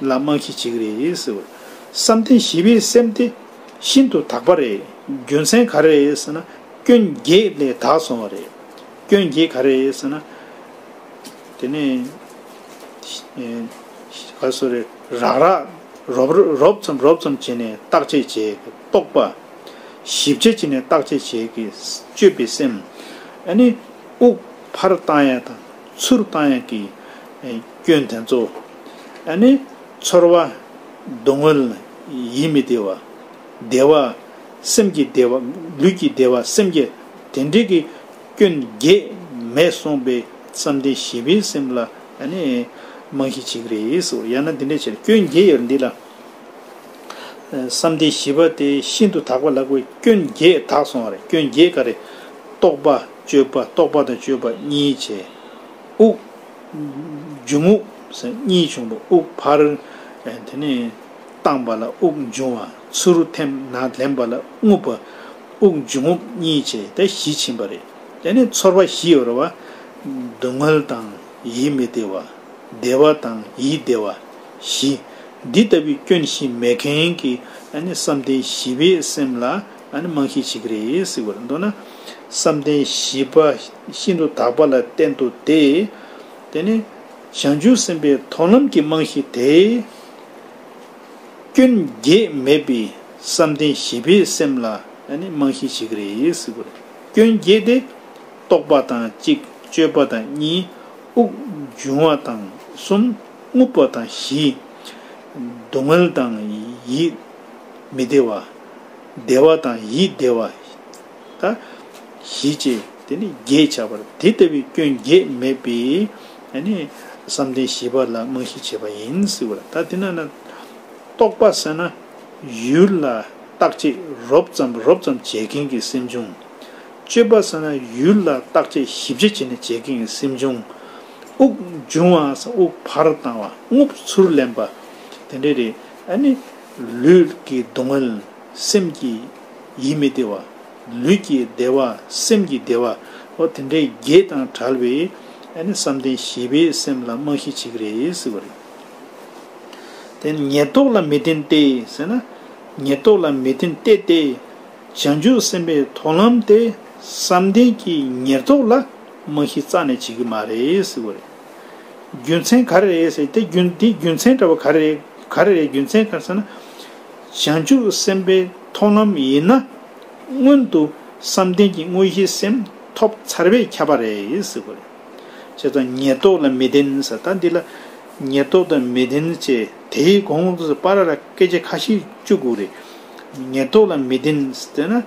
ལ་རྨང་གཞི་བྱེད་ཀྱི་རེད། བསམ་གཏན་བཞི་པའི་སེམས་དེ་ཤིན་ཏུ་དག་པ་རེད། རྒྱུ་མཚན་ག་རེ་རེད་ཟེར་ན་སྐྱོན་བརྒྱད་ལས་དག་སོང་བ་རེད། སྐྱོན་བརྒྱད་ག་རེ་རེད་ཟེར་ན། དེ་ནས་ཧ་སོ་རེད། རག་རག་རོབ་རོབ་ཙམ་རོབ་ཙམ་བྱས་ནས་བརྟག་དཔྱད་བྱས་ཀྱི་རྟོག་པ། ཞིབ་ཆ་བྱས་ནས་བརྟག་དཔྱད་བྱས་ཀྱི་དཔྱོད་པའི་སེམས། ཨ་ནི་དབུགས་ཕར་བཏང་ཡ་དང། ཚུར་བཏང་ཡས་ཀྱི་སྐྱོན་དེ་ཚོ། ཨ་ནི། ཚོར་བ། སྡུག་བསྔལ། ཡིད་མི་བདེ་བ། བདེ་བ། སེམས་ཀྱི་བདེ་བ། ལུས་ཀྱི་བདེ་བ་སེམས་ཀྱི་དེ་འདྲས་ཀྱི་སྐྱོན་བརྒྱད་མེད་གསུངས་པའི་བསམ་གཏན་བཞི་པའི་སེམས་ལ་ཨ་ནི། རྨང་གཞི་བྱེད་ཀྱི་རེད་ཡ་ན་འདི་འདྲས་བྱས་ན་སྐྱོན་བརྒྱད་ཡོད་རེད་འདི་ལ། བསམ་གཏན་བཞི་པ་སྟེ་ཤིན་ཏུ་དག་པ་ལ་ཀུན་སྐྱོན་བརྒྱད་དག་སོང་བ་རེད་སྐྱོན་བརྒྱད་ག་རེ། རྟོག་པ་སྤྱོད་པ་རྟོག་པ་དང་སྤྱོད་པ་གཉིས་བྱས། དབུགས། འབྱུང་དབུགས་སམ་གཉིས་བྱུང་བ་དབུགས་འཕར། དེ་ནས། བཏང་བ་ལ་དབུགས་འབྱུང་བ་ཚུར་རུ་འཐེན་ན་ལེན་པ་ལ་རྔུབ་པ། དབུགས་འབྱུང་རྔུབ་གཉིས་བྱས་ཏེ་བཞི་ཕྱིན་པ་རེད། དེ་ནས་ཚོར་བ་བཞི་ཡོད་རེད་བ། སྡུག་བསྔལ་དང་ཡིད་མི་བདེ་བ། བདེ་བ་དང་ཡིད་བདེ་བ། བཞི། འདི་ལྟ་བུའི་སྐྱོན་བཞི་མེད་མཁན་གྱི་བསམ་གཏན་བཞི་པའི་སེམས་ལ་རྨང་གཞི་བྱེད་ཀྱི་རེད་ཟེར་བར་མདོར་ན། བསམ་གཏན་བཞི་པ་ཤིན་ཏུ་དག་པ་ལ་བརྟེན་ཏོ་སྟེ། དེ་ནི་བྱང་ཆུབ་སེམས་དཔའི་མཐོང་ལམ་གྱི་རྨང་གཞི་དེ། སྐྱོན་བརྒྱད་མེད་པའི་བསམ་གཏན་བཞི་པའི་སེམས་ལ་རྨང་གཞི་བྱེད་ཀྱི་རེད་ཟེར་བར། སྐྱོན་བརྒྱད་དེ། རྟོག་པ་དང་གཅིག་སྤྱོད་པ་དང་གཉིས་དབུགས་འབྱུང་བ་དང་གསུམ། རྔུབ་པ་དང་བཞི། སྡུག་བསྔལ་དང་ཡིད་མི་བདེ་བ། བདེ་བ་དང་ཡིད་བདེ་བ། ད་བཞི་ཅེས་དེ་ནི་བརྒྱད་བྱ་བར་དེ་ལྟ་བུའི་སྐྱོན་བརྒྱད་མེད་པས་བསམ་གཏན་བཞི་པ་ལ་རྨང་གཞི་བྱེད་པ་ཡིན། ད་དེ་ན་རྟོག་པ་བསལ་ན་ཡུལ་ལ་རྟག་ཆད་རོབ་ཙམ་རོབ་ཙམ་བྱེད་མཁན་གྱི་སེམས་འབྱུང། སྤྱོད་པ་བསལ་ན་ཡུལ་ལ་རྟག་ཆད་བཞི་བརྒྱ་བྱས་ནས་བྱེད་མཁན་གྱི་སེམས་འབྱུང། དབུགས་འབྱུང་བ་དབུགས་བར་བཏང་བ་རྔུབས་ཚུར་ལེན་པ། དེ་འདྲའི་རེ་ཨ་ནི། ལུས་ཀྱི་སྡུག་བསྔལ་སེམས་ཀྱི་ཡིད་མི་བདེ་བ། ལུས་ཀྱི་བདེ་བ་སེམས་ཀྱི་བདེ་བ། ཨོ་དེ་འདྲའི་བརྒྱད་དང་བྲལ་བའི་ཨ་ནི་བསམ་གཏན་བཞི་པའི་སེམས་ལ་རྨང་གཞི་བྱེད་ཀྱི་རེད་ཟེར་བ་རེད། དེ་ནི་ཉེར་བསྡོགས་ལ་མི་བརྟེན་ཏེ་ཟེར་ན། ཉེར་བསྡོགས་ལ་མི་བརྟེན་གཏད་དེ། བྱང་ཆུབ་སེམས་དཔའི་མཐོང་ལམ་དེ་བསམ་གཏན་གྱི་ཉེར་བསྡོགས་ལ། རྨང་གཞི་རྩ་ནས་བྱེད་ཀྱི་མ་རེད་ཟེར་གི་རེད། རྒྱུ་མཚན་ག་རེ་རེད་ཟེར་དེ་དེ་རྒྱུ་མཚན་འདྲ་བ་ག་རེ་རེད་ག་རེ་རེད་རྒྱུ་མཚན་ག་རེ་ཟེར་ན། བྱང་ཆུབ་སེམས་དཔའི་མཐོང་ལམ་ཡིན་ན། སྔོན་དུ་བསམ་གཏན་གྱི་དངོས་གཞི་སེམས་ཐོབ་ཚར་བས་ཁྱབ་པ་རེད་ཟེར་གི་རེད། བྱས་ཙང་ཉེར་བསྡོགས་ལ་མི་བདེན་ཟེར་ད་འདི་ལ། ཉེར་བསྡོགས་དང་མི་བདེན་ཅེས་དེའི་གོང་དུ་སྤ་ར་ར་སྐད་ཆ་ཁ་ཤས་བཅུག་གི་རེད། ཉེར་བསྡོགས་ལ་མི་བདེན་ཟེར་ན།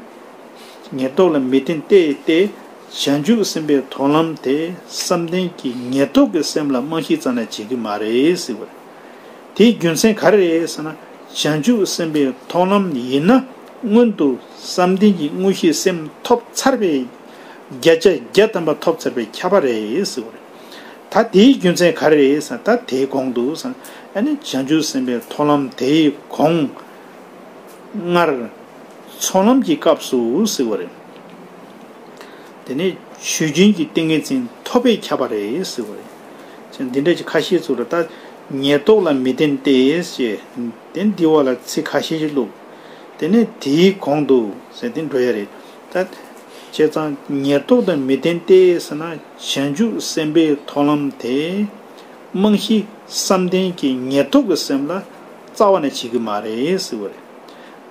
ངེས་རྟོགས་ལ་མི་བརྟེན་གཏད་དེ། བྱང་ཆུབ་སེམས་དཔའི་མཐོང་ལམ་དེ་བསམ་གཏན་གྱི་ངེས་རྟོགས་ཀྱི་སེམས་ལ་རྨང་གཞི་གཙང་ན་བྱེད་ཀྱི་མ་རེད། དེའི་རྒྱུ་མཚན་ག་རེ་རེད་ཟེར་ན། བྱང་ཆུབ་སེམས་དཔའི་མཐོང་ལམ་ཡིན་ན་སྔོན་དུ་བསམ་གཏན་གྱི་དངོས་གཞིའི་སེམས་ཐོབ་ཚར་བས། བརྒྱ་ཆ་བརྒྱ་དམ་པ་ཐོབ་ཚར་བས་ཁྱབ་པ་རེད། ད་དེའི་རྒྱུ་མཚན་ག་རེ་རེད་ཟེར་ན་ད་དེའི་གོང་དུ། བྱང་ཆུབ་སེམས་དཔའི་མཐོང་ལམ་དེའི་གོང། སྔར། ཚོགས་ལམ་གྱི་སྐབས་སུ་ཟེར་བ་རེད། དེ་ནས་ཆོས་རྒྱུན་གྱི་ཏིང་ངེ་འཛིན་ཐོབ་པས་ཁྱབ་པ་རེད་ཟེར་བ་རེད། འདི་འདྲ་ཅིག་ཁ་ཤས་ཚུར་ལ་བལྟ། ཉེར་བསྡོགས་ལ་མི་བརྟེན་ཏེ་ཞེས། དེ་འདི་བ་ལ་ཚིག་ཁ་ཤས་ཤིག་བླུག། དེ་ནས་དེའི་གོང་དུ་ཟེར་དེ་འགྲོ་ཡ་རེད། ད། བྱས་ཙང་ཉེར་བསྡོགས་དང་མི་བརྟེན་ཏེ་ཟེར་ན་བྱང་ཆུབ་སེམས་དཔའི་ཚོགས་ལམ་དེ། རྨང་གཞི་བསམ་གཏན་གྱི་ཉེར་བསྡོགས་ཀྱི་སེམས་ལ། རྩ་བ་ནས་བྱེད་ཀྱི་མ་རེད་ཟེར་བ་རེད།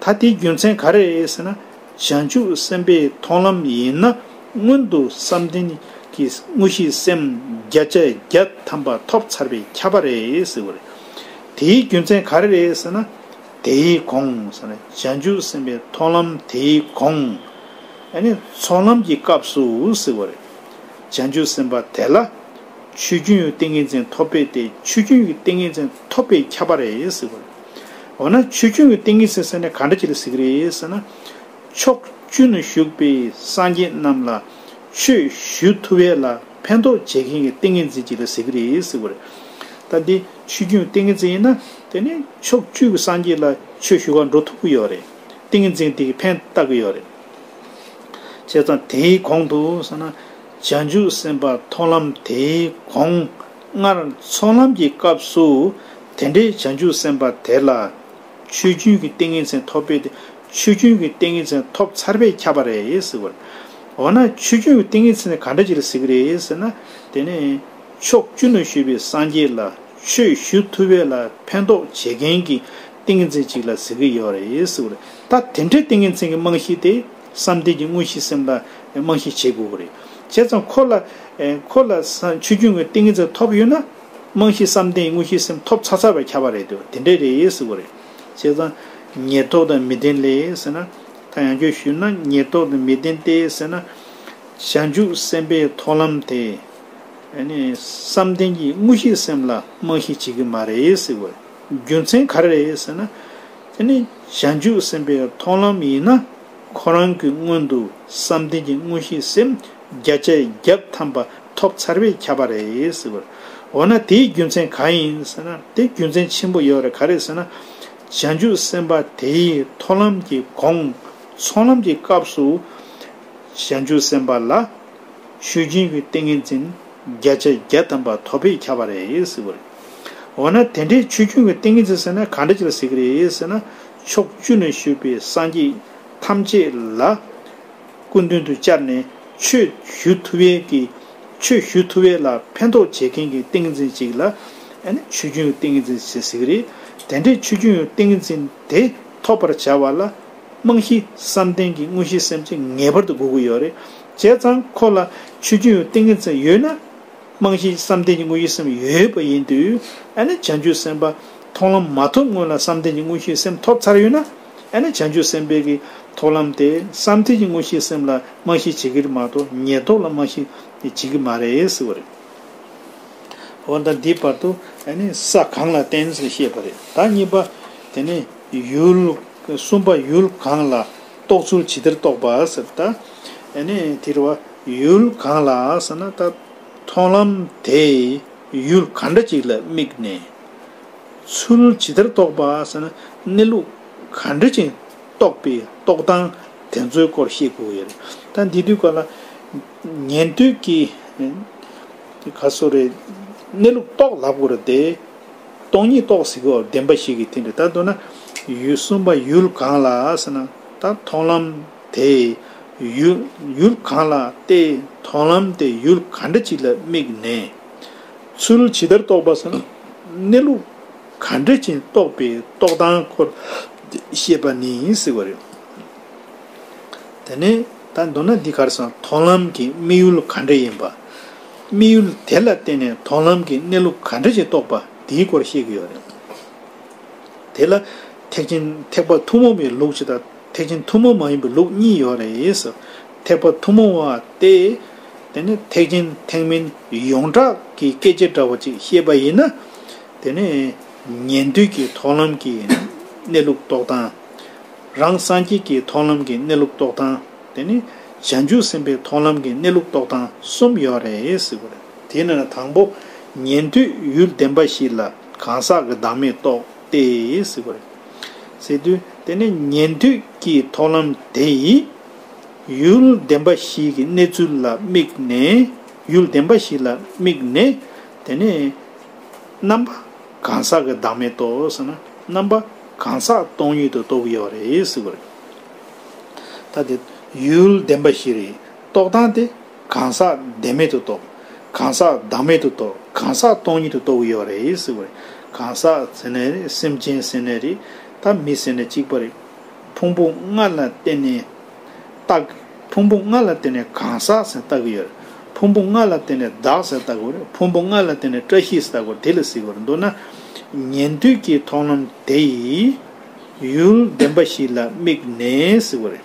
ད་དེའི་རྒྱུ་མཚན་ག་རེ་རེད་ཟེར་ན། བྱང་ཆུབ་སེམས་དཔའི་མཐོང་ལམ་ཡིན་ན་སྔོན་དུ་བསམ་གཏན་གྱི་དངོས་གཞི་སེམས་བརྒྱ་ཆ་བརྒྱ་ཐམ་པ་ཐོབ་ཚར་བའི་ཁྱབ་པ་རེད་ཟེར་བ་རེད། དེའི་རྒྱུ་མཚན་ག་རེ་རེད་ཟེར་ན། དེའི་གོང་ཟེར་ན་བྱང་ཆུབ་སེམས་དཔའི་མཐོང་ལམ་དེའི་གོང། ཡནི་ཚོགས་ལམ་གྱི་སྐབས་སུ་ཟེར་བ་རེད། བྱང་ཆུབ་སེམས་དཔའ་དེ་ལ། ཆོས་རྒྱུན་ཡོད་ཏིང་ངེ་འཛིན་ཐོབ་པས་ཏེ་ཆོས་རྒྱུན་ཡོད་ཏིང་ངེ་འཛིན། ཐོབ་པས་ཁྱབ་པ་རེད་ཟེར་གི་རེད། འོ་ན་ཆོས་འབྱུང་གི་ཏིང་ངེ་འཛིན་ཟེར་ནས་ག་འདྲ་བྱེད་ལ་གཟིགས་རེད་ཟེར་ན། ཕྱོགས་བཅུ་ན་བཞུགས་པའི་སངས་རྒྱས་རྣམས་ལ་ཆོས་ཞུ་ཐུབ་བས་ལ་ཕན་ཐོགས་བྱེད་མཁན་གྱི་ཏིང་ངེ་འཛིན་གྱིས་ལ་གཟིགས་གི་རེད་ཟེར་གི་རེད། ད་འདི་ཆོས་འབྱུང་གི་ཏིང་ངེ་འཛིན་ཡིན་ན་དེ་ནི་ཕྱོགས་བཅུ་གི་སངས་རྒྱས་ལ་ཆོས་ཞུ་བར་འགྲོ་ཐུབ་ཀྱི་ཡོད་རེད། ཏིང་ངེ་འཛིན་དེ་གིས་ཕན་བཏགས་ཀྱི་ཡོད་རེད། བྱས་ཙང་དེའི་གོང་དུ་ཟེར་ན། བྱང་ཆུབ་སེམས་དཔའ་མཐོང་ལམ་དེའི་གོང། སྔར་ཚོགས་ལམ་གྱི་སྐབས་སུ་དེ་འདྲའི་བྱང་ཆུབ་སེམས་དཔའ་དེ་ལ། ཆོས་རྒྱུན་གྱི་ཏིང་ངེ་འཛིན་ཐོབ་པས་ཆོས་རྒྱུན་གྱི་ཏིང་ངེ་འཛིན་ཐོབ་ཚར་བས་ཁྱབ་པ་རེད་ཟེར་བར། འོ་ན་ཆོས་རྒྱུན་གྱི་ཏིང་ངེ་འཛིན་ནི་ག་འདྲ་ཅིག་ལ་ཟེར་གྱི་རེད་ཟེར་ན། དེ་ནི། ཕྱོགས་བཅུ་ན་བཞུགས་པའི་སངས་རྒྱས་ལ་ཆོས་ཞུ་ཐུབ་བས་ལ་ཕན་ཐོགས་བྱེད་མཁན་གྱི་ཏིང་ངེ་འཛིན་ཅིག་ལ་ཟེར་གྱི་ཡོད་རེད་ཟེར་བར། ད་དེ་འདྲའི་ཏིང་ངེ་འཛིན་གྱི་རྨང་གཞི་དེ། བསམ་གཏན་གྱི་དངོས་གཞི་སེམས་ལ་རྨང་གཞི་བྱེད་དགོས་པ་རེད། བྱས་ཙང་ཁོ་ལ། ཁོ་ལ། ཆུ་རྒྱུན་གྱི་ཏིང་ངེ་འཛིན་ཐོབ་ཡོད་ན། རྨང་གཞི་བསམ་གཏན་གྱི་དངོས་གཞི་སེམས་ཐོབ་ཚར་ཚར་བས་ཁྱབ་པ་རེད་འདོད་དེ་འདྲས་རེད་ཟེར་དགོས་རེད། བྱས་ཙང། ཉེར་ཐོག་དང་མི་ལྡན་ལས་ཟེར་ན། ད་ཡང་ཁྱོད་ཞུས་ན་ཉེར་ཐོག་དང་མི་ལྡན་ཏེ་ཟེར་ན། བྱང་ཆུབ་སེམས་དཔའི་མཐོང་ལམ་དེ། བསམ་གཏན་གྱི་དངོས་གཞི་སེམས་ལ་རྨང་གཞི་བྱེད་ཀྱི་མ་རེད་ཟེར་དགོས་རེད། རྒྱུ་མཚན་ག་རེ་རེད་ཟེར་ན། དེ་ནི་བྱང་ཆུབ་སེམས་དཔའི་མཐོང་ལམ་ཡིན་ན། ཁོ་རང་གི་སྔོན་དུ་བསམ་གཏན་གྱི་དངོས་གཞི་སེམས་བརྒྱ་ཆ་བརྒྱ་ཐམ་པ་ཐོབ་ཚར་བས་ཁྱབ་པ་རེད། འོ་ན་དེའི་རྒྱུ་མཚན་གང་ཡིན་ཟེར་ན་དེ་རྒྱུ་མཚན་ཆེན་པོ་ཡོད་རེད་ག་རེད་ཟེར་ན། བྱང་ཆུབ་སེམས་དཔའ་དེའི་མཐོང་ལམ་གྱི་གོང་ཚོང་ལམ་གྱི་སྐབས་སུ། བྱང་ཆུབ་སེམས་དཔའ་ལ། ཆོས་སྦྱིན་གྱི་ཏིང་ངེ་འཛིན་བརྒྱ་ཆ་བརྒྱ་ཐམ་པ་ཐོབ་པས་ཁྱབ་པ་རེད། འོ་ན་དེ་འདྲའི་ཆོས་ཆུང་གི་ཏིང་ངེ་འཛིན་ཟེར་ན་གང་འདྲ་ཅིག་ལ་ཟེར་གྱི་རེད་ཟེར་ན། ཕྱོགས་བཅུ་ནས་བཞུགས་པའི་སངས་རྒྱས་ཐམས་ཅད་ལ་སྐུ་མདུན་དུ་བཅར་ནས་ཆོས་ཞུ་ཐུབ་བས་ཀྱི། ཆོས་ཞུ་ཐུབ་བས་ལ་ཕན་ཐོགས་བྱེད་མཁན་གྱི་ཏིང་ངེ་འཛིན་ཅིག་ལ། ཆོས་ཆུང་གི་ཏིང་ངེ་འཛིན་ཞེས་ཟེར་གྱི་རེད། དེ་འདྲའི་ཆོས་ཆུང་གི་ཏིང་ངེ་འཛིན་དེ་ཐོབ་པར་བྱ་བ་ལ། རྨང་གཞི་བསམ་གཏན་གྱི་དངོས་གཞི་སེམས་ཅན་ངེས་པར་དུ་དགོས་ཀྱི་ཡོད་རེད། བྱས་ཙང་ཁོ་ལ་ཆོས་ཆུང་གི་ཏིང་ངེ་འཛིན་ཡོད་ན། རྨང་གཞིའི་བསམ་གཏན་གྱི་དངོས་ཡིད་སེམས་ཡོད་པ་ཡིན་དུས་ཨ་ནེ་བྱང་ཆུབ་སེམས་དཔའ་མཐོང་ལམ་མ་ཐོབ་སྔོན་ལ་བསམ་གཏན་གྱི་དངོས་ཡིད་སེམས་ཐོབ་ཚར་ཡོད་ན་ཨ་ནེ་བྱང་ཆུབ་སེམས་དཔའི་གི་ཐོབ་ལམ་དེས་བསམ་གཏན་གྱི་དངོས་ཡིད་སེམས་ལ་རྨང་གཞི་བྱེད་གིར་མ་གཏོགས་ཉེར་བསྡོགས་ལ་རྨང་གཞི་བྱེད་གི་མ་རེད་ཟེར་བ་རེད། འོན་ཏང་འདིའི་བར་དུ་ཨ་ནེ་ས་གང་ལ་བརྟེན་ཟེར་བཤད་པ་རེད་ད་གཉིས་པ་དེ་ནི་ཡུལ། གསུམ་པ་ཡུལ་གང་ལ་རྟོགས་ཚུལ་ཇི་ལྟར་རྟོགས་པ་ཟེར་ད་ཨ་ནེ་དེར་བ། ཡུལ་གང་ལགས་ཟེར་ན་ད་མཐོང་ལམ་དེ་ཡུལ་ག་འདྲ་ཅིག་ལ་དམིགས་ནས་ཚུལ་ཇི་ལྟར་རྟོགས་པ་ཟེར་ན་གནས་ལུགས་ག་འདྲ་ཅིག་རྟོགས་པའི་རྟོགས་སྟངས་དེ་ཚོའི་སྐོར་ཤེས་དགོས་ཡོད་རེད། ད་འདི་དུས་ཀ་ལ་ཉན་ཐོས་ཀྱི་དེ་ག་སོ་རེད་གནས་ལུགས་རྟོགས་ལབ་དགོས་ར་དེ་སྟོང་ཉིད་རྟོགས་ཟིག་གོ་བདེན་པ་ཞིག་གི་དེ་འདྲ་ད་མདོར་ན་ཡུལ་གསུམ་པ་ཡུལ་གང་ལགས་ཟེར་ན་ད་མཐོང་ལམ་དེ། ཡུལ་གང་ལ་བལྟས་མཐོང་ལམ་དེ་ཡུལ་ག་འདྲ་ཅིག་ལ་དམིགས་ནས། ཚུལ་ཇི་ལྟར་རྟོགས་པ་སམ། གནས་ལུགས་ག་འདྲ་ཅན་རྟོགས་པའི་རྟོགས་སྟངས་སྐོར་བཤད་པ་ནི་ཟེར་བ་རེད། དེ་ནས་ད་མདོར་ན་འདི་གར་སང་མཐོང་ལམ་གྱི་དམིགས་ཡུལ་ག་འདྲ་ཡིན་པ། དམིགས་ཡུལ་དེ་ལ་བརྟེན་ནས་མཐོང་ལམ་གྱི་གནས་ལུགས་ག་འདྲ་ཅིག་རྟོགས་པ་དེའི་སྐོར་བཤད་ཀྱི་ཡོད་རེད། དེ་ལ་ཐེག་ཆེན་ཐེག་པ་ཐུན་མོང་བའི་ལུགས་ཇི་ལྟར། ཐེག་ཆེན་ཐུན་མོང་མ་ཡིན་པའི་ལུགས་གཉིས་ཡོད་རེད། ཐེག་པ་ཐུན་མོང་བ་སྟེ། དེ་ནི་ཐེག་ཆེན་ཐེག་མིན་ཡོངས་གྲགས་ཀྱི་སྐད་ཆ་འདྲ་བ་ཅིག་ཤེས་པ་ཡིན་ན། དེ་ནི་ཉན་ཐོས་ཀྱི་ཐོག་ལམ་གྱི་གནས་ལུགས་རྟོགས་སྟངས། རང་སངས་རྒྱས་ཀྱི་ཐོག་ལམ་གྱི་གནས་ལུགས་རྟོགས་སྟངས་དེ་ནི་བྱང་ཆུབ་སེམས་དཔའི་ཐོག་ལམ་གྱི་གནས་ལུགས་རྟོགས་སྟངས་གསུམ་ཡོད་རེད། དེས་ན་དང་པོ་ཉན་ཐོས་ཡུལ་བདེན་པ་ཞིག་ལ་གང་ཟག་གི་བདག་མེད་རྟོགས། ཏེ། ཟེར་བ་རེད། ཟེར་དུས་དེ་ནི་ཉན་ཐོས་ཀྱི་མཐོང་ལམ་དེ་ཡིས། ཡུལ་བདེན་པ་ཞིག་གི་གནས་ཚུལ་ལ་དམིགས་ནས། ཡུལ་བདེན་པ་ཞིག་ལ་དམིགས་ནས། དེ་ནི། རྣམ་པ་གང་ཟག་གི་བདག་མེད་དོ་ཟེར་ན། རྣམ་པ་གང་ཟག་སྟོང་ཉིད་དུ་རྟོགས་ཡོད་རེད་ཟེར་བ་རེད། ད་དེ་ཡུལ་བདེན་པ་ཞིག་རེད་རྟོགས་སྟངས་དེ། གང་ཟག་བདེན་མེད་དུ་རྟོགས། གང་ཟག་བདག་མེད་དུ་རྟོགས་གང་ཟག་སྟོང་ཉིད་དུ་རྟོགས་གི་ཡོད་པ་རེད་ཟེར་བ་རེད། གང་ཟག་ཟེར་ནས་རེད་སེམས་ཅན་ཟེར་ནས་རེད་ད་མི་ཟེར་ནས་གཅིག་པ་རེད། ཕུང་པོ་ལྔ་ལ་བརྟེན་ནས་རྟགས། ཕུང་པོ་ལྔ་ལ་བརྟེན་ནས་གང་ཟག་ཟེར་བཏགས་གི་ཡོད། ཕུང་པོ་ལྔ་ལ་བརྟེན་ནས་བདག་ཟེར་བཏགས་གི་ཕུང་པོ་ལྔ་ལ་བརྟེན་ནས་བཀྲ་ཤིས་ཟེར་བཏགས་གི་དེ་ལ་གཟིགས་པར་འདོད་ན། ཉན་ཐོས་ཀྱི་མཐོང་ལམ་དེ་ཡི། ཡུལ་བདེན་པ་ཞིག་ལ་དམིགས་ནས་ཟེར་བ་རེད།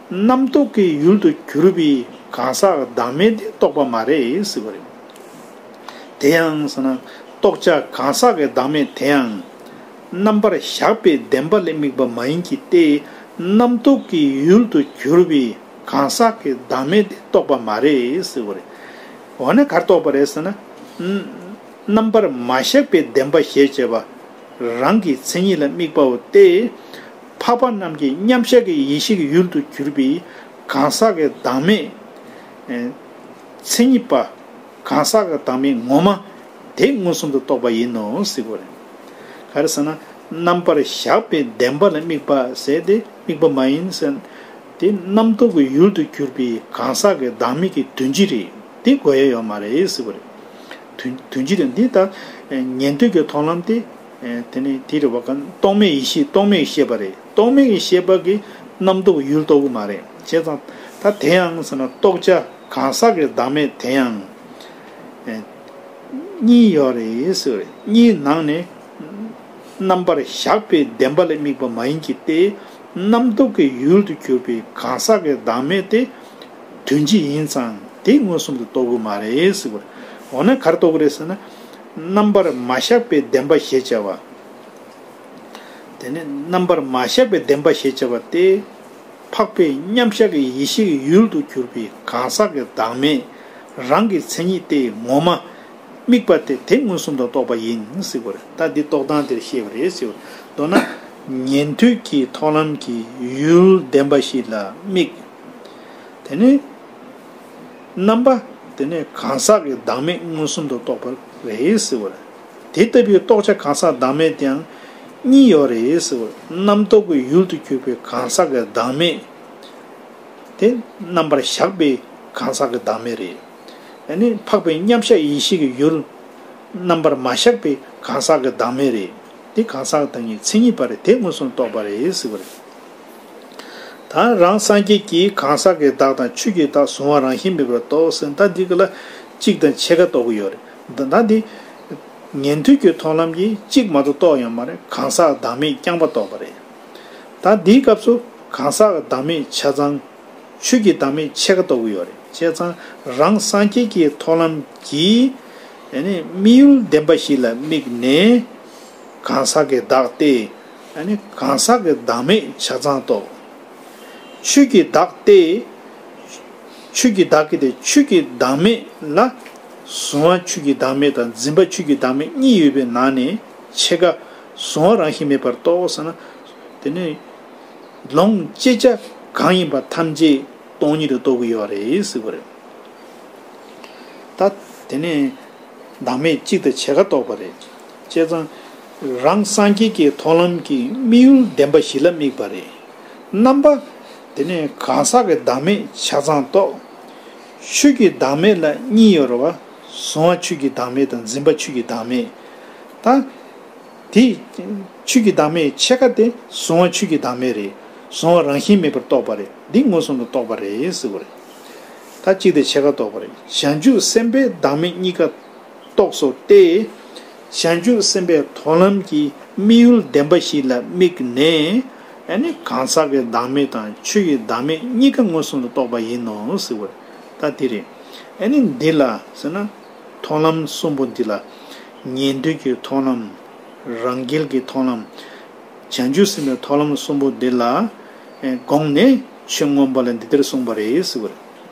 རྣམ་རྟོག་གི་ཡུལ་དུ་གྱུར་པའི་གང་ཟག་བདག་མེད་དེ་རྟོགས་པ་མ་རེད་ཟེར་བ་རེད། དེ་ཡང་ཟེར་ན་རྟོགས་བྱ་གང་ཟག་གི་བདག་མེད་དེ་ཡང། རྣམ་པར་གཞག་པའི་བདེན་པ་ལས་དམིགས་པ་མ་ཡིན་གྱི་སྟེ། རྣམ་རྟོག་གི་ཡུལ་དུ་གྱུར་པའི་གང་ཟག་གི་བདག་མེད་དེ་རྟོགས་པ་མ་རེད་ཟེར་བ་རེད། འོ་ན་གར་རྟོགས་པ་རེད་ཟེར་ན། རྣམ་པར་མ་གཞག་པའི་བདེན་པ་ཞེས་བྱ་བ་རང་གི་མཚན་ཉིད་ལ་དམིགས་པའོ་སྟེ། འཕགས་པ་རྣམས་ཀྱི་མཉམ་གཞག་གི་ཡེ་ཤེས་ཀྱི་ཡུལ་དུ་གྱུར་པའི་གང་ཟག་གི་བདག་མེད། མཚན་ཉིད་པ། གང་ཟག་གི་བདག་མེད་ངོ་མ། དེ་མངོན་སུམ་དུ་རྟོགས་པ་ཡིན་ནོ། ག་རེ་ཟེར་ན། རྣམ་པར་གཞག་པའི་བདེན་པ་ལ་དམིགས་པ་ཟད་དེ་དམིགས་པ་མ་ཡིན་ཟེར། དེ་རྣམ་རྟོག་གི་ཡུལ་དུ་གྱུར་པའི་གང་ཟག་གི་བདག་མེད་ཀྱི་དོན་སྤྱི་རེད་དེ་གོ་ཡ་ཡོད་མ་རེད། དོན་སྤྱི་དེ་འདི་ལྟར། ཉན་ཐོས་ཀྱི་མཐོང་ལམ་སྟེ། དེ་ནི་དེའི་རེ་བ་གང། རྟོག་མེད་ཡེ་ཤེས་རྟོག་མེད་ཀྱི་ཤེས་པ་རེད། རྟོག་མེད་ཀྱི་ཤེས་པ་གིས་རྣམ་རྟོག་ཡུལ་རྟོག་གི་མ་རེད། བྱས་ཙང། ད་དེ་ཡང་ཟེར་ན་རྟོག་བྱ་གང་ཟག་གི་བདག་མེད་དེ་ཡང། གཉིས་ཡོད་རེད་ཟེར་བ་རེད། གཉིས་ནང་ནས། རྣམ་པར་བཞག་པའི་བདེན་པ་ལས་དམིགས་པ་མ་ཡིན་གྱི་སྟེ། རྣམ་རྟོག་གི་ཡུལ་དུ་གྱུར་པའི་གང་ཟག་གི་བདག་མེད་དེ། དོན་ཅི་ཡིན་ཙང་དེ་མངོན་སུམ་དུ་རྟོག་གི་མ་རེད་ཟེར་བ་རེད། འོ་ན་གར་རྟོག་གི་རེད་ཟེར་ན། རྣམ་པར་མ་བཞག་པའི་བདེན་པ་ཞེས་བྱ་བ། དེ་ནི་རྣམ་པར་མ་བཞག་པའི་བདེན་པ་ཞེས་བྱ་བ་སྟེ། འཕགས་པའི་མཉམ་བཞག་གི་ཡེ་ཤེས་ཀྱི་ཡུལ་དུ་གྱུར་པའི་གང་ཟག་གི་བདག་མེད་རང་གི་མཚན་ཉིད་སྟེ་ངོ་མ། དམིགས་པ་སྟེ་དེ་མངོན་སུམ་དུ་རྟོགས་པ་ཡིན་སྲིད་པར་ལྟ་འདི་རྟོགས་སྟངས་དེར་བཤད་པ་རེད་ཟེར་བ། མདོར་ན། ཉན་ཐོས་ཀྱི་མཐོང་ལམ་གྱི་ཡུལ་བདེན་པ་ཞིག་ལ་དམིགས། དེ་ནི། རྣམ་པ། དེ་ནས་གང་ཟག་གི་བདག་མེད་མངོན་སུམ་དུ་རྟོགས་པར་རེ་ཟེར་བ། དེ་ལྟ་བུའི་རྟོགས་བྱ་གང་ཟག་བདག་མེད་དེའང་གཉིས་ཡོད་རེ་ཟེར་བ། རྣམ་རྟོག་གི་ཡུལ་དུ་གྱུར་པའི་གང་ཟག་གི་བདག་མེད། དེ་རྣམ་པར་གཞག་པའི་གང་ཟག་གི་བདག་མེད་རེད། ནི་འཕགས་པའི་མཉམ་གཞག་ཡེ་ཤེས་ཀྱི་ཡུལ། རྣམ་པར་མ་གཞག་པའི་གང་ཟག་གི་བདག་མེད་རེད། དེ་གང་ཟག་དང་གཉིས་མཚན་ཉིད་པར་དེ་མངོན་སུམ་དུ་རྟོགས་པར་རེ་ཟེར་བ། དང། རང་སངས་རྒྱས་ཀྱིས་གང་ཟག་གི་བདག་དང་ཆོས་ཀྱི་བདག་གཟུང་བ་རང་བཞིན་མེད་པར་རྟོགས་ཟིན་ད་འདི་ག་ལ་གཅིག་དང་ཕྱེད་ཀ་རྟོགས་ཀྱི་ཡོད་རེད་ད་འདི། ཉན་ཐོས་ཀྱི་མཐོང་ལམ་གྱིས་གཅིག་མ་གཏོགས་རྟོགས་ཡོད་མ་རེད་གང་ཟག་བདག་མེད་རྐྱང་པ་རྟོགས་པ་རེད། ད་འདིའི་སྐབས་སུ་གང་ཟག་བདག་མེད་ཆ་ཚང། ཆོས་ཀྱི་བདག་མེད་ཕྱེད་ཀ་རྟོགས་ཀྱི་ཡོད་རེད་བྱས་ཙང་རང་སངས་རྒྱས་ཀྱི་མཐོང་ལམ་གྱིས། དམིགས་ཡུལ་བདེན་པ་ཞིག་ལ་དམིགས་ནས་གང་ཟག་གི་བདག་སྟེ། གང་ཟག་གི་བདག་མེད་ཆ་ཚང་རྟོགས། ཆོས་ཀྱི་བདག་སྟེ། ཆོས་ཀྱི་བདག་གི་དེ་ཆོས་ཀྱི་བདག་མེད་ལ། གཟུང་བ་ཆོས་ཀྱི་བདག་མེད་དང་འཛིན་པ་ཆོས་ཀྱི་བདག་མེད་གཉིས་ཡོད་པའི་ནང་ནས་ཕྱེད་ཀ། གཟུང་བ་རང་བཞིན་མེད་པར་རྟོགས་ཟེར་ན། དེ་ནི། ལོངས་སྤྱད་བྱ་གང་ཡིན་པ་ཐམས་ཅད་སྟོང་ཉིད་དུ་རྟོགས་གི་ཡོད་རེད་ཟེར་བ་རེད། ད། དེ་ནི། བདག་མེད་གཅིག་དང་ཕྱེད་ཀ་རྟོགས་པ་རེད། བྱས་ཙང། རང་སངས་རྒྱས་ཀྱི་མཐོང་ལམ་གྱི་དམིགས་ཡུལ་བདེན་པ་བཞི་ལ་དམིགས་པ་རེད། རྣམ་པ། དེ་ནས་གང་ཟག་གི་བདག་མེད་ཆ་ཚང་རྟོགས། ཆོས་ཀྱི་བདག་མེད་ལ་གཉིས་ཡོད་རེད་བ། གཟུང་བ་ཆོས་ཀྱི་བདག་མེད་དང་འཛིན་པ་ཆོས་ཀྱི་བདག་མེད། ད། དེ། ཆོས་ཀྱི་བདག་མེད་ཕྱེད་ཀ་དེ་གཟུང་བ་ཆོས་ཀྱི་བདག་མེད་རེད། གཟུང་བ་རང་བཞིན་མེད་པར་རྟོགས་པ་རེད་འདི་མངོན་སུམ་དུ་རྟོགས་པ་རེད། ཟེར་བ་རེད། ད་གཅིག་དེ་ཕྱེད་ཀ་རྟོགས་པ་རེད་བྱང་ཆུབ་སེམས་དཔའི་བདག་མེད་གཉིས་ཀ། རྟོགས་སོ་སྟེ། བྱང་ཆུབ་སེམས་དཔའི་མཐོང་ལམ་གྱི་དམིགས་ཡུལ་བདེན་པ་ཞིག་ལ་དམིགས་ནས། གང་ཟག་གི་བདག་མེད་དང་ཆོས་ཀྱི་བདག་མེད་གཉིས་ཀ་ངོས་བཟུང་ལ་རྟོགས་པ་ཡིན་ནོ་ཟེར་བ་ལྟ་དེ་རེད། འདི་ལ་ཟེར་ན། མཐོང་ལམ་གསུམ་པོ་འདི་ལ། ཉན་ཐོས་ཀྱི་མཐོང་ལམ། རང་རྒྱལ་གྱི་མཐོང་ལམ། བྱང་ཆུབ་སེམས་དཔའི་མཐོང་ལམ་གསུམ་པོ་འདི་ལ། དགོངས་ནས་ཆོས་མངོན་པ་ལ་འདི་ལྟར་གསུངས་པ་རེད་ཟེར་བ་རེད།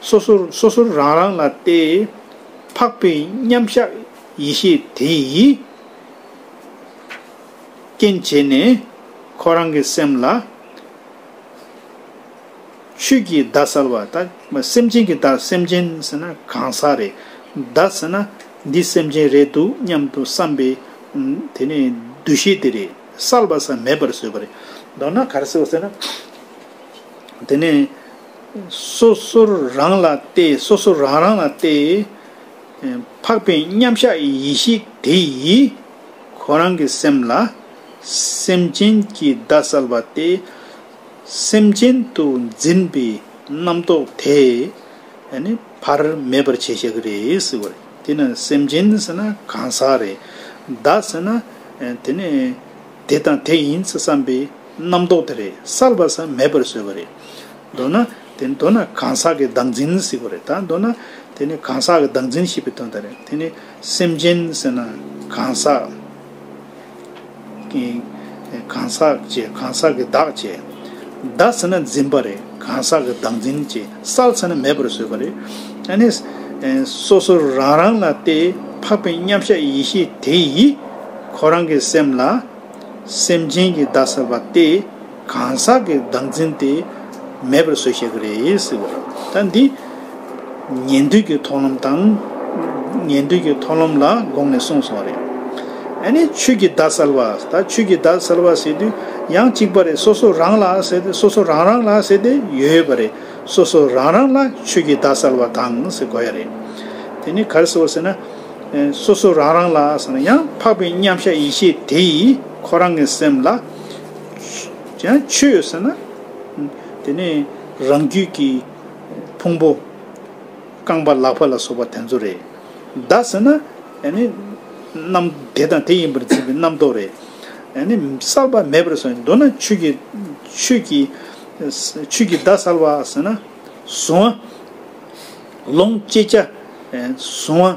སོ་སོར་སོ་སོར་རང་རང་ལ་སྟེ། འཕགས་པའི་མཉམ་གཞག་ཡེ་ཤེས་དེ་ཡིས། རྐྱེན་བྱས་ནས་ཁོ་རང་གི་སེམས་ལ། ཆོས་ཀྱི་བརྡ་གསལ་བ་དང། སེམས་ཅན་གྱི་བརྡ་སེམས་ཅན་ཟེར་ན་གང་ཟག་རེད། བརྡ་ཟེར་ན་འདི་སེམས་ཅན་རེད་འདུག་སྙམ་དུ་བསམ་པའི། དེ་ནས་འདུ་ཤེས་དེ་རེད་གསལ་བ་ཟག་མེད་པར་བཟོས་པ་རེད། མདོར་ན་གར་སེལ་བ་ཟེར་ན། དེ་ནས་སོ་སོར་རང་ལ་སྟེ་སོ་སོ་རང་རང་ལ་སྟེ། འཕགས་པའི་མཉམ་གཞག་ཡེ་ཤེས་དེ་ཡིས། ཁོ་རང་གི་སེམས་ལ། སེམས་ཅན་གྱི་བརྡ་གསལ་བ་སྟེ། སེམས་ཅན་དུ་འཛིན་པའི་རྣམ་རྟོག་དེ། བར་མེད་པར་བྱས་ཞེས་རེད་ཟེར་བ་རེད། དེས་ན་སེམས་ཅན་ཟེར་ན་གང་ཟག་རེད། བརྡ་ཟེར་ན། དེ་ནི་དེ་དང་དེ་ཡིན་ས་བསམ་པའི། རྣམ་རྟོག་དེ་རེད་སར་བ་ས་མེད་པར་བཟོས་པ་རེད། མདོར་ན། དེ་མདོར་ན་གང་ཟག་གི་བདག་འཛིན་ཟིག་པ་རེད་ད་མདོར་ན། དེ་ནི་གང་ཟག་གི་བདག་འཛིན་ཞེས་པའི་དོན་དང་རེད་དེ་ནི་སེམས་ཅན་ཟེར་ན་གང་ཟག། གང་ཟག་ཅེས་གང་ཟག་གི་བདག་ཅེས། བདག་ཟེར་ན་འཛིན་པ་རེད་གང་ཟག་གི་བདག་འཛིན་ཅེས་སར་ཟེར་ན་མེད་པར་བཟོས་པ་རེད། ཨ་ནི། སོ་སོ་རང་རང་ལ་སྟེ་འཕགས་པའི་མཉམ་གཞག་ཡེ་ཤེས་དེ་ཡིས། ཁོ་རང་གི་སེམས་ལ། སེམས་ཅན་གྱི་བདག་ཟེར་བ་སྟེ་གང་ཟག་གི་བདག་འཛིན་དེ་མེད་པར་བཟོས་ཤེས་ཀྱི་རེད་ཟེར་བ་རེད། ད་འདི་ཉན་ཐོས་ཀྱི་མཐོང་ལམ་དང། ཉན་ཐོས་ཀྱི་མཐོང་ལམ་ལ་དགོངས་ནས་གསུངས་སོང་རེད། ཨ་ནི་ཆོས་ཀྱི་བདག་ཟེར་བ་ད་ཆོས་ཀྱི་བདག་ཟེར་བ་ཟེར་དུས་ཡང་གཅིག་པ་རེད་སོ་སོ་རང་ལ་ཟེར་ཏེ་སོ་སོ་རང་རང་ལ་ཟེར་ཏེ་ཡོད་པ་རེད་སོ་སོ་རང་རང་ལ་ཆོས་ཀྱི་བདག་ཟེར་བ་དང་ཟེར་དགོས་ཡ་རེད། དེ་ནི་གར་ཟེར་བ་ཟེར་ན། སོ་སོ་རང་རང་ལ་ཟེར་ན་ཡང་འཕགས་པའི་མཉམ་གཞག་ཡེ་ཤེས་དེ་ཡིས་ཁོ་རང་གི་སེམས་ལ། ཡང་ཆོས་ཟེར་ན། དེ་ནི་རང་རྒྱུད་ཀྱི་ཕུང་པོ། རྐང་པ་ལག་པ་ལ་སོགས་པ་དེ་ཚོ་རེད། བདག་ཟེར་ན་ཡང་ནི། རྣམ་དེ་དང་དེ་ཡིན་པར་འཛིན་པའི་རྣམ་རྟོག་རེད། ཡང་ནི་བསལ་བ་མེད་པར་སོང་མདོར་ན་ཆོས་ཀྱི་ཆོས་ཀྱི་ཆོས་ཀྱི་བདག་བསལ་བ་ཟེར་ན་བཟུང་བ། ལོངས་སྤྱད་བྱ། གཟུང་བ།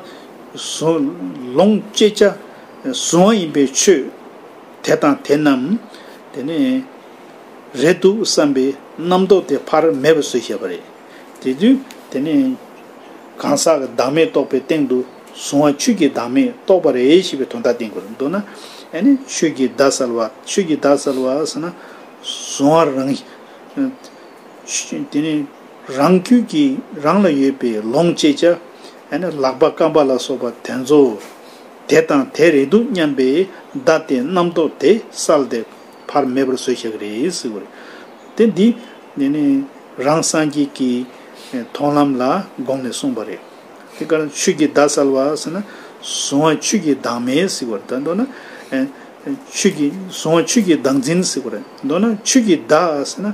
ལོངས་སྤྱད་བྱ། གཟུང་བ་ཡིན་པའི་ཆོས། དེ་དང་དེ་རྣམས། དེ་ནི། རེད་འདུག་བསམ་པའི་རྣམ་རྟོག་དེ་ཕར་མེད་པ་སུས་ཤེས་པ་རེད། དེ་དུས་དེ་ནི། གང་ཟག་གི་བདག་མེད་རྟོགས་པའི་སྟེང་དུ། གཟུང་བ་ཆོས་ཀྱི་བདག་མེད་རྟོགས་པ་རེད་ཞེས་པའི་དོན་དག་བསྟན་དགོས། མདོར་ན། ཆོས་ཀྱི་བདག་གསལ་བ། ཆོས་ཀྱི་བདག་གསལ་བ་ཟེར་ན། གཟུང་བ་རང། དེ་ནི། རང་རྒྱུད་ཀྱི་རང་ལ་ཡོད་པའི་ལོངས་སྤྱད་བྱ། ལག་པ་སྐམ་པ་ལ་སོགས་པ་དེ་ཚོ། དེ་དང་དེ་རེད་འདུག་སྙམ་པའི་བརྡ་དེ་རྣམ་རྟོག་དེ་བསལ་ཏེ་བར་མེད་པར་བཟོས་བྱ་གི་རེད་ཟེར་བ་རེད། དེ་འདི་ནས་ནི་རང་སངས་རྒྱས་ཀྱི་མཐོང་ལམ་ལ་དགོངས་ནས་གསུངས་པ་རེད། དེ་གར་ཆོས་ཀྱི་བརྡ་བསལ་བ་ཟེར་ན་གཟུང་བ་ཆོས་ཀྱི་བདག་མེད་ཟེར་བར་དོན་མདོར་ན། ཆོས་ཀྱི་གཟུང་བ་ཆོས་ཀྱི་བདག་འཛིན་ཟེར་བར་མདོར་ན་ཆོས་ཀྱི་བདག་ཟེར་ན།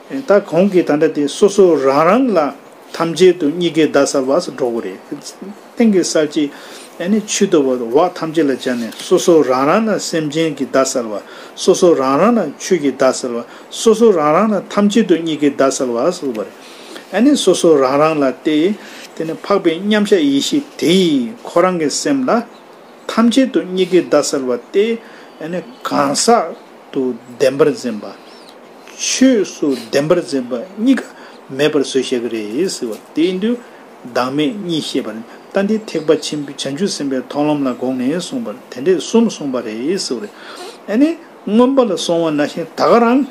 ད་གོང་གི་དང་འདྲ་དེ་སོ་སོ་རང་རང་ལ་ཐམས་ཅད་དུ་གཉིས་ཀའི་བརྡ་གསར་བ་སུ་འགྲོ་གི་རེད། སྟེང་གི་གསར་བྱེད་ནི་ཆུ་ལྟ་བུ་འོག་ཐམས་ཅད་ལ་སྦྱར་ནས་སོ་སོ་རང་རང་ལ་སེམས་ཅན་གྱི་བརྡ་གསར་བ་སོ་སོ་རང་རང་ལ་ཆུ་ཡི་བརྡ་གསར་བ་སོ་སོ་རང་རང་ལ་ཐམས་ཅད་དུ་གཉིས་ཀའི་བརྡ་གསར་བ་སུ་བ་རེད། སོ་སོ་རང་རང་ལ་སྟེ། དེ་ནི་འཕགས་པའི་མཉམ་གཞག་ཡེ་ཤེས་དེ་ཡིས་ཁོ་རང་གི་སེམས་ལ་ཐམས་ཅད་དུ་གཉིས་ཀའི་བརྡ་གསར་བ་སྟེ། གང་ཟག་ཏུ་བདེན་པར་འཛིན་པ། ཆོས་སུ་བདེན་པར་འཛིན་པ་གཉིས་ཀ་མེད་པར་བཟོས་བཤད་ཀྱི་རེད། དེ་ཡིན་དུས་བདག་མེད་གཉིས་ཤེས་པར་ལྟ་འདི་ཐེག་པ་ཆེན་པོའི་བྱང་ཆུབ་སེམས་དཔའི་མཐོང་ལམ་ལ་དགོངས་ནས་གསུངས་པར་དེ་འདྲས་གསུམ་གསུངས་པ་རེད། ཨ་ནི་མངོན་པ་ལ་སོང་བ་ན་ཤིང་ད་ག་རང།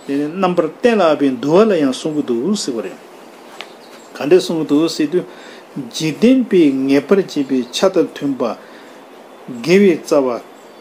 དེ་ནི་རྣམ་པར་བསྟན་ལ་ཨ་པའི་འདུལ་བ་ལ་ཡང་གསུང་གི་འདུག་ཟེར་བ་རེད། ག་འདྲས་གསུང་གི་འདུག་ཟེར་དུས། འཇིག་རྟེན་པའི་ངེས་པར་འབྱེད་པའི་ཆ་དང་མཐུན་པ། དགེ་བའི་རྩ་བ།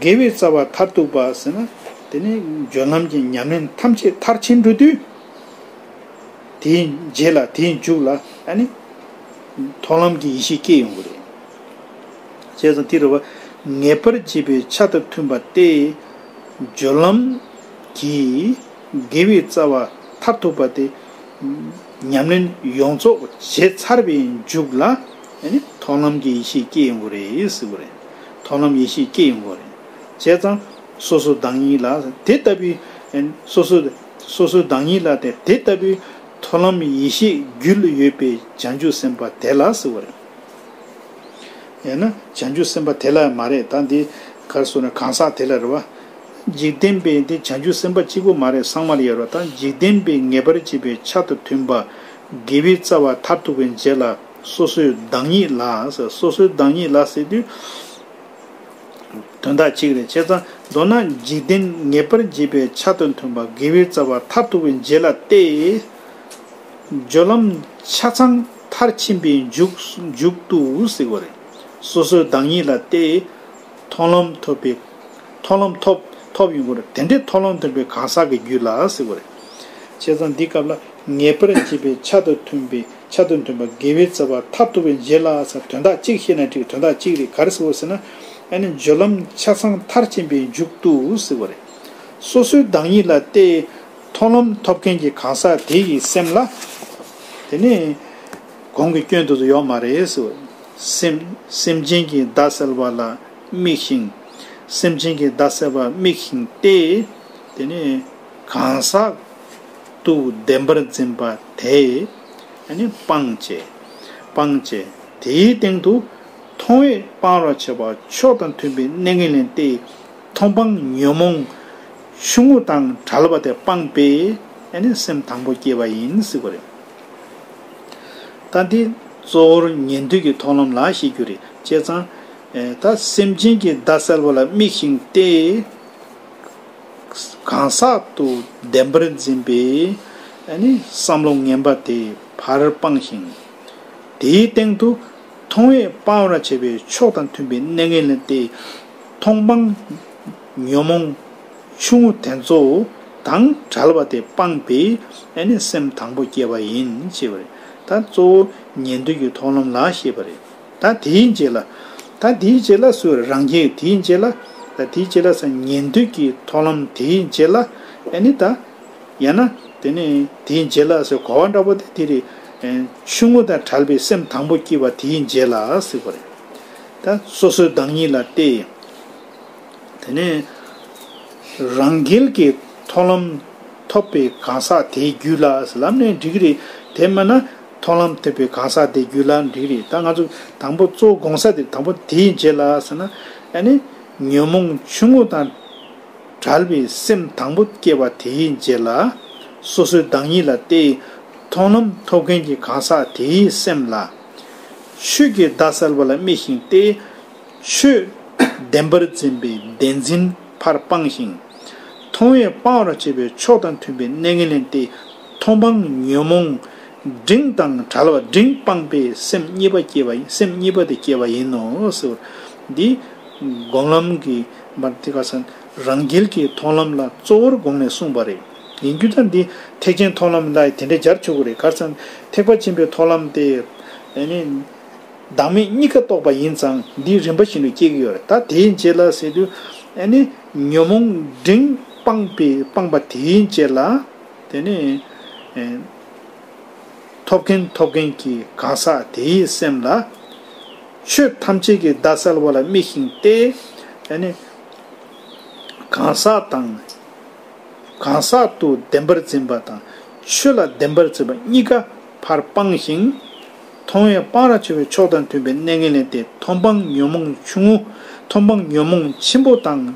དགེ་བའི་རྩ་བ་མཐར་གཏུགས་པ་ཟེར་ན། དེ་ནི་སྦྱོར་ལམ་གྱི་ཉམས་ལེན་ཐམས་ཅད་མཐར་ཕྱིན་འགྲོ་དུས། དེའི་རྗེས་ལ་དེའི་མཇུག་ལ་ནི། མཐོང་ལམ་གྱི་ཡེ་ཤེས་སྐྱེ་ཡོང་གི་རེད། བྱས་ཙང་དེ་རུ་བ། ངེས་པར་འབྱེད་པའི་ཆ་དང་མཐུན་པ་སྟེ། སྦྱོར་ལམ་གྱིས་དགེ་བའི་རྩ་བ་མཐར་ཐུག་པ་སྟེ། ཉམས་ལེན་ཡོངས་རྫོགས་བྱས་ཚར་བའི་མཇུག་ལ་ནི་མཐོང་ལམ་གྱི་ཡེ་ཤེས་སྐྱེ་ཡོང་གི་རེད་ཟེར་གི་རེད། མཐོང་ལམ་ཡེ་ཤེས་སྐྱེ་ཡི་མགོ། བྱས་ཙང། སོ་སོའི་བདག་ཉིད་ལ། དེ་ལྟ་བུའི། སོ་སོའི། སོ་སོའི་བདག་ཉིད་ལ། དེ་ལྟ་བུའི། མཐོང་ལམ་ཡེ་ཤེས་རྒྱུད་ཡོད་པའི་བྱང་ཆུབ་སེམས་དཔའ་དེ་ལ་ཟེར་བ་རེད། ཡང་ན། བྱང་ཆུབ་སེམས་དཔའ་དེ་ལ་མ་རེད་ད། འདི་གར་གསུངས་ན་གང་ཟག་དེ་ལ་རེད་བ། འཇིག་རྟེན་པའི་འདི་བྱང་ཆུབ་སེམས་དཔའ་གཅིག་པོ་མ་རེད་སངས་མ་རེད་ཡར་བ་ད་འཇིག་རྟེན་པའི་ངེས་པར་འབྱེད་པའི་ཆ་དང་མཐུན་པ། དགེ་བའི་རྩ་བ་མཐར་ཐུག་པའི་འབྱེད་ལ། སོ་སོའི་བདག་ཉིད་ལ། སོ་སོའི་བདག་ཉིད་ལ་ཟེར་དུས། དོན་དག་ཅིག་རེད་བྱས་ཙང་མདོར་ན་འཇིག་རྟེན་ངེས་པར་འབྱེད་པའི་ཆ་དང་མཐུན་པ་དགེ་བའི་རྩ་བ་མཐར་ཐུག་པའི་རྗེས་ལ་སྟེ། སྦྱོར་ལམ་ཆ་ཚང་མཐར་ཕྱིན་པའི་མཇུག་ཏུ་ཟེར་བ་རེད། སོ་སོའི་བདག་ཉིད་ལ་སྟེ། མཐོང་ལམ་ཐོབ་པའི། མཐོང་ལམ་ཐོབ། ཐོབ་ཡོང་གི་རེད་དེ་འདྲའི་མཐོང་ལམ་ཐོབ་པའི་གང་ཟག་གི་རྒྱུད་ལ་ཟེར་བ་རེད། བྱས་ཙང་འདི་སྐབས་ལ་ངེས་པར་འབྱེད་པའི་ཆ་དང་མཐུན་པའི། ཆ་དང་མཐུན་པ་དགེ་བའི་རྩ་བ་མཐར་ཐུག་པའི་རྗེས་ལ་ས་དོན་དག་གཅིག་ཤེས་ན་ཁྲིགས་དོན་དག་གཅིག་རིག་གར་ཟེར་བ་ཟེར་ན་ཨ་ནི་སྦྱོར་ལམ་ཆ་ཚང་མཐར་ཕྱིན་པའི་མཇུག་ཏུ་ཟེར་བ་རེད། སོ་སོའི་བདག་ཉིད་ལ་བལྟས། མཐོང་ལམ་ཐོབ་མཁན་གྱི་གང་ཟག་དེ་ཡི་སེམས་ལ། དེ་ནི་གོང་གི་སྐྱོན་དུ་ཡོད་མ་རེད་ཟེར་བ། སེམས་སེམས་ཅན་གྱི་བདག་གསལ་བ་ལ་དམིགས་ཤིང། སེམས་ཅན་གྱི་བདག་གསལ་བར་དམིགས་ཤིང་སྟེ། དེ་ནི་གང་ཟག་ཏུ་བདེན་པར་འཛིན་པ་དེས་ནི་སྤང་བྱའི། སྤང་བྱའི། དེའི་སྟེང་དུ། མཐོང་བས་སྤང་རོགས་བྱེད་པ་ཕྱོགས་དང་མཐུན་པའི་གནས་ངན་ལེན་ཏེ། མཐོང་སྤང་ཉོན་མོངས། ཆུང་ངུ་དང་བྲལ་བ་དེ་སྤངས་པས་ནི་སེམས་དང་པོ་སྐྱེས་པ་ཡིན་སྲིད་པ་རེད། ད་འདི་གཙོ་བོར་ཉན་ཐོས་ཀྱི་མཐོང་ལམ་ལ་བཤད་རྒྱུ་རེད་བྱས་ཙང། ད་སེམས་ཅན་གྱི་བརྡ་གསལ་བ་ལ་དམིགས་ཤིང་སྟེ། གང་ཟག་ཏུ་བདེན་པར་འཛིན་པའི་བསམ་བློ་ངན་པ་དེ་བར་སྤངས་ཤིང། དེའི་སྟེང་དུ་མཐོང་བས་སྤང་བར་བྱ་བའི་ཕྱོགས་དང་མཐུན་པའི་གནས་ངན་ལེན་ཏེ། མཐོང་སྤང། ཉོན་མོངས། ཆུང་ངུ་དེ་ཚོ་དང་བྲལ་བ་དེ་སྤངས་པས་སེམས་དང་པོ་སྐྱེ་བ་ཡིན་ཅེས་པ་རེད། ད་གཙོ་བོ་ཉན་ཐོས་ཀྱི་ཐོག་ལམ་ལ་ཞེས་པ་རེད། ད་དེའི་རྗེས་ལ། ད་དེའི་རྗེས་ལ་སུ་རང་རྒྱལ་དེའི་རྗེས་ལ། ད་དེའི་རྗེས་ལ་ས་ཉན་ཐོས་ཀྱི་ཐོག་ལམ་དེའི་རྗེས་ལ། ནི་ད། ཡང་ན། དེ་ནས་དེའི་རྗེས་ལ་སོགས་གོ་བ་འདྲ་བོ་དེ་དེར། ཆུང་ངུ་དང་བྲལ་བའི་སེམས་དང་པོ་སྐྱེས་པ་དེའི་རྗེས་ལ་ཟེར་བ་རེད། ད་སོ་སོའི་བདག་ཉིད་ལ་སྟེ། དེ་ནས། རང་རྒྱལ་གྱི་ཐོག་ལམ་ཐོབ་པའི་གང་ཟག་དེའི་རྒྱུད་ལ་ལམ་ནས་འགྲིག་གི་རེད་དེ་མིན་ན། མཐོང་ལམ་ཐེབས་པའི་གང་ཟག་དེ་རྒྱུད་ལ་འགྲིག་རེད་ད་ང་ཚོ་དང་པོ་གཙོ་བོ་གོང་ས་དེ་དང་པོ་དེའི་རྗེས་ལ་ཟེར་ན་ཨ་ནི་ཉོན་མོངས་ཆུང་ངུ་དང་བྲལ་བའི་སེམས་དང་པོ་སྐྱེས་པ་དེའི་རྗེས་ལ་སོ་སོའི་བདག་ཉིད་ལ་སྟེ། མཐོང་ལམ་ཐོབ་མཁན་གྱི་གང་ཟག་དེའི་སེམས་ལ། ཆོས་ཀྱི་བརྡ་གསལ་བ་ལ་དམིགས་ཤིང་སྟེ། ཆོས་བདེན་པར་འཛིན་པའི་བདེན་འཛིན་ཕར་སྤངས་ཤིང། མཐོང་བས་སྤང་བར་བྱེད་པའི་ཕྱོགས་དང་མཐུན་པའི་གནས་ངན་ལེན་ཏེ། མཐོང་སྤང་ཉོན་མོངས་འབྲིང་དང་བྲལ་བ་འབྲིང་སྤངས་པས་སེམས་གཉིས་པ་སྐྱེ་བ་སེམས་གཉིས་པ་དེ་སྐྱེ་བ་ཡིན་ནོ་ཟེར་བ། འདི་སྒོམ་ལམ་གྱི་བར་དེ་ག་ས་རང་རྒྱལ་གྱི་མཐོང་ལམ་ལ་གཙོ་བོར་དགོངས་ནས་གསུངས་པ་རེད། ཡིན་རྒྱུ་དང་འདི་ཐེག་ཆེན་མཐོང་ལམ་ལ་དེ་འདྲ་སྦྱར་ཆོག་གི་རེད་གར་སང་ཐེག་པ་ཆེན་པོའི་མཐོང་ལམ་སྟེ། བདག་མེད་གཉིས་ཀ་རྟོགས་པ་ཡིན་ཙང་འདིའི་རིམ་པ་བཞིན་དུ་སྐྱེ་གི་ཡོད་རེད་ད་དེའི་རྗེས་ལ་ཟེར་དུས། ཉོན་མོངས་འབྲིང་སྤངས་པས་སྤངས་པ་དེའི་རྗེས་ལ། དེ་ནས། ཐོབ་མཁན་ཐོབ་མཁན་གྱི་གང་ཟག་དེའི་སེམས་ལ། ཆོས་ཐམས་ཅད་ཀྱི་བརྡ་གསལ་བ་ལ་དམིགས་ཤིང་ཏེ། དེ་ནས། གང་ཟག་དང། གང་ཟག་ཏུ་བདེན་པར་འཛིན་པ་དང། ཆོས་ལ་བདེན་པར་འཛིན་པ་གཉིས་ཀ་བར་སྤངས་ཤིང། མཐོང་བའི་སྤང་ར་ཆེ་བའི་ཕྱོགས་དང་མཐུན་པའི་གནས་ངན་ལེན་ཏེ་མཐོང་སྤང་ཉོན་མོངས་ཆུང་ངུ། མཐོང་སྤང་ཉོན་མོངས་ཆེན་པོ་དང་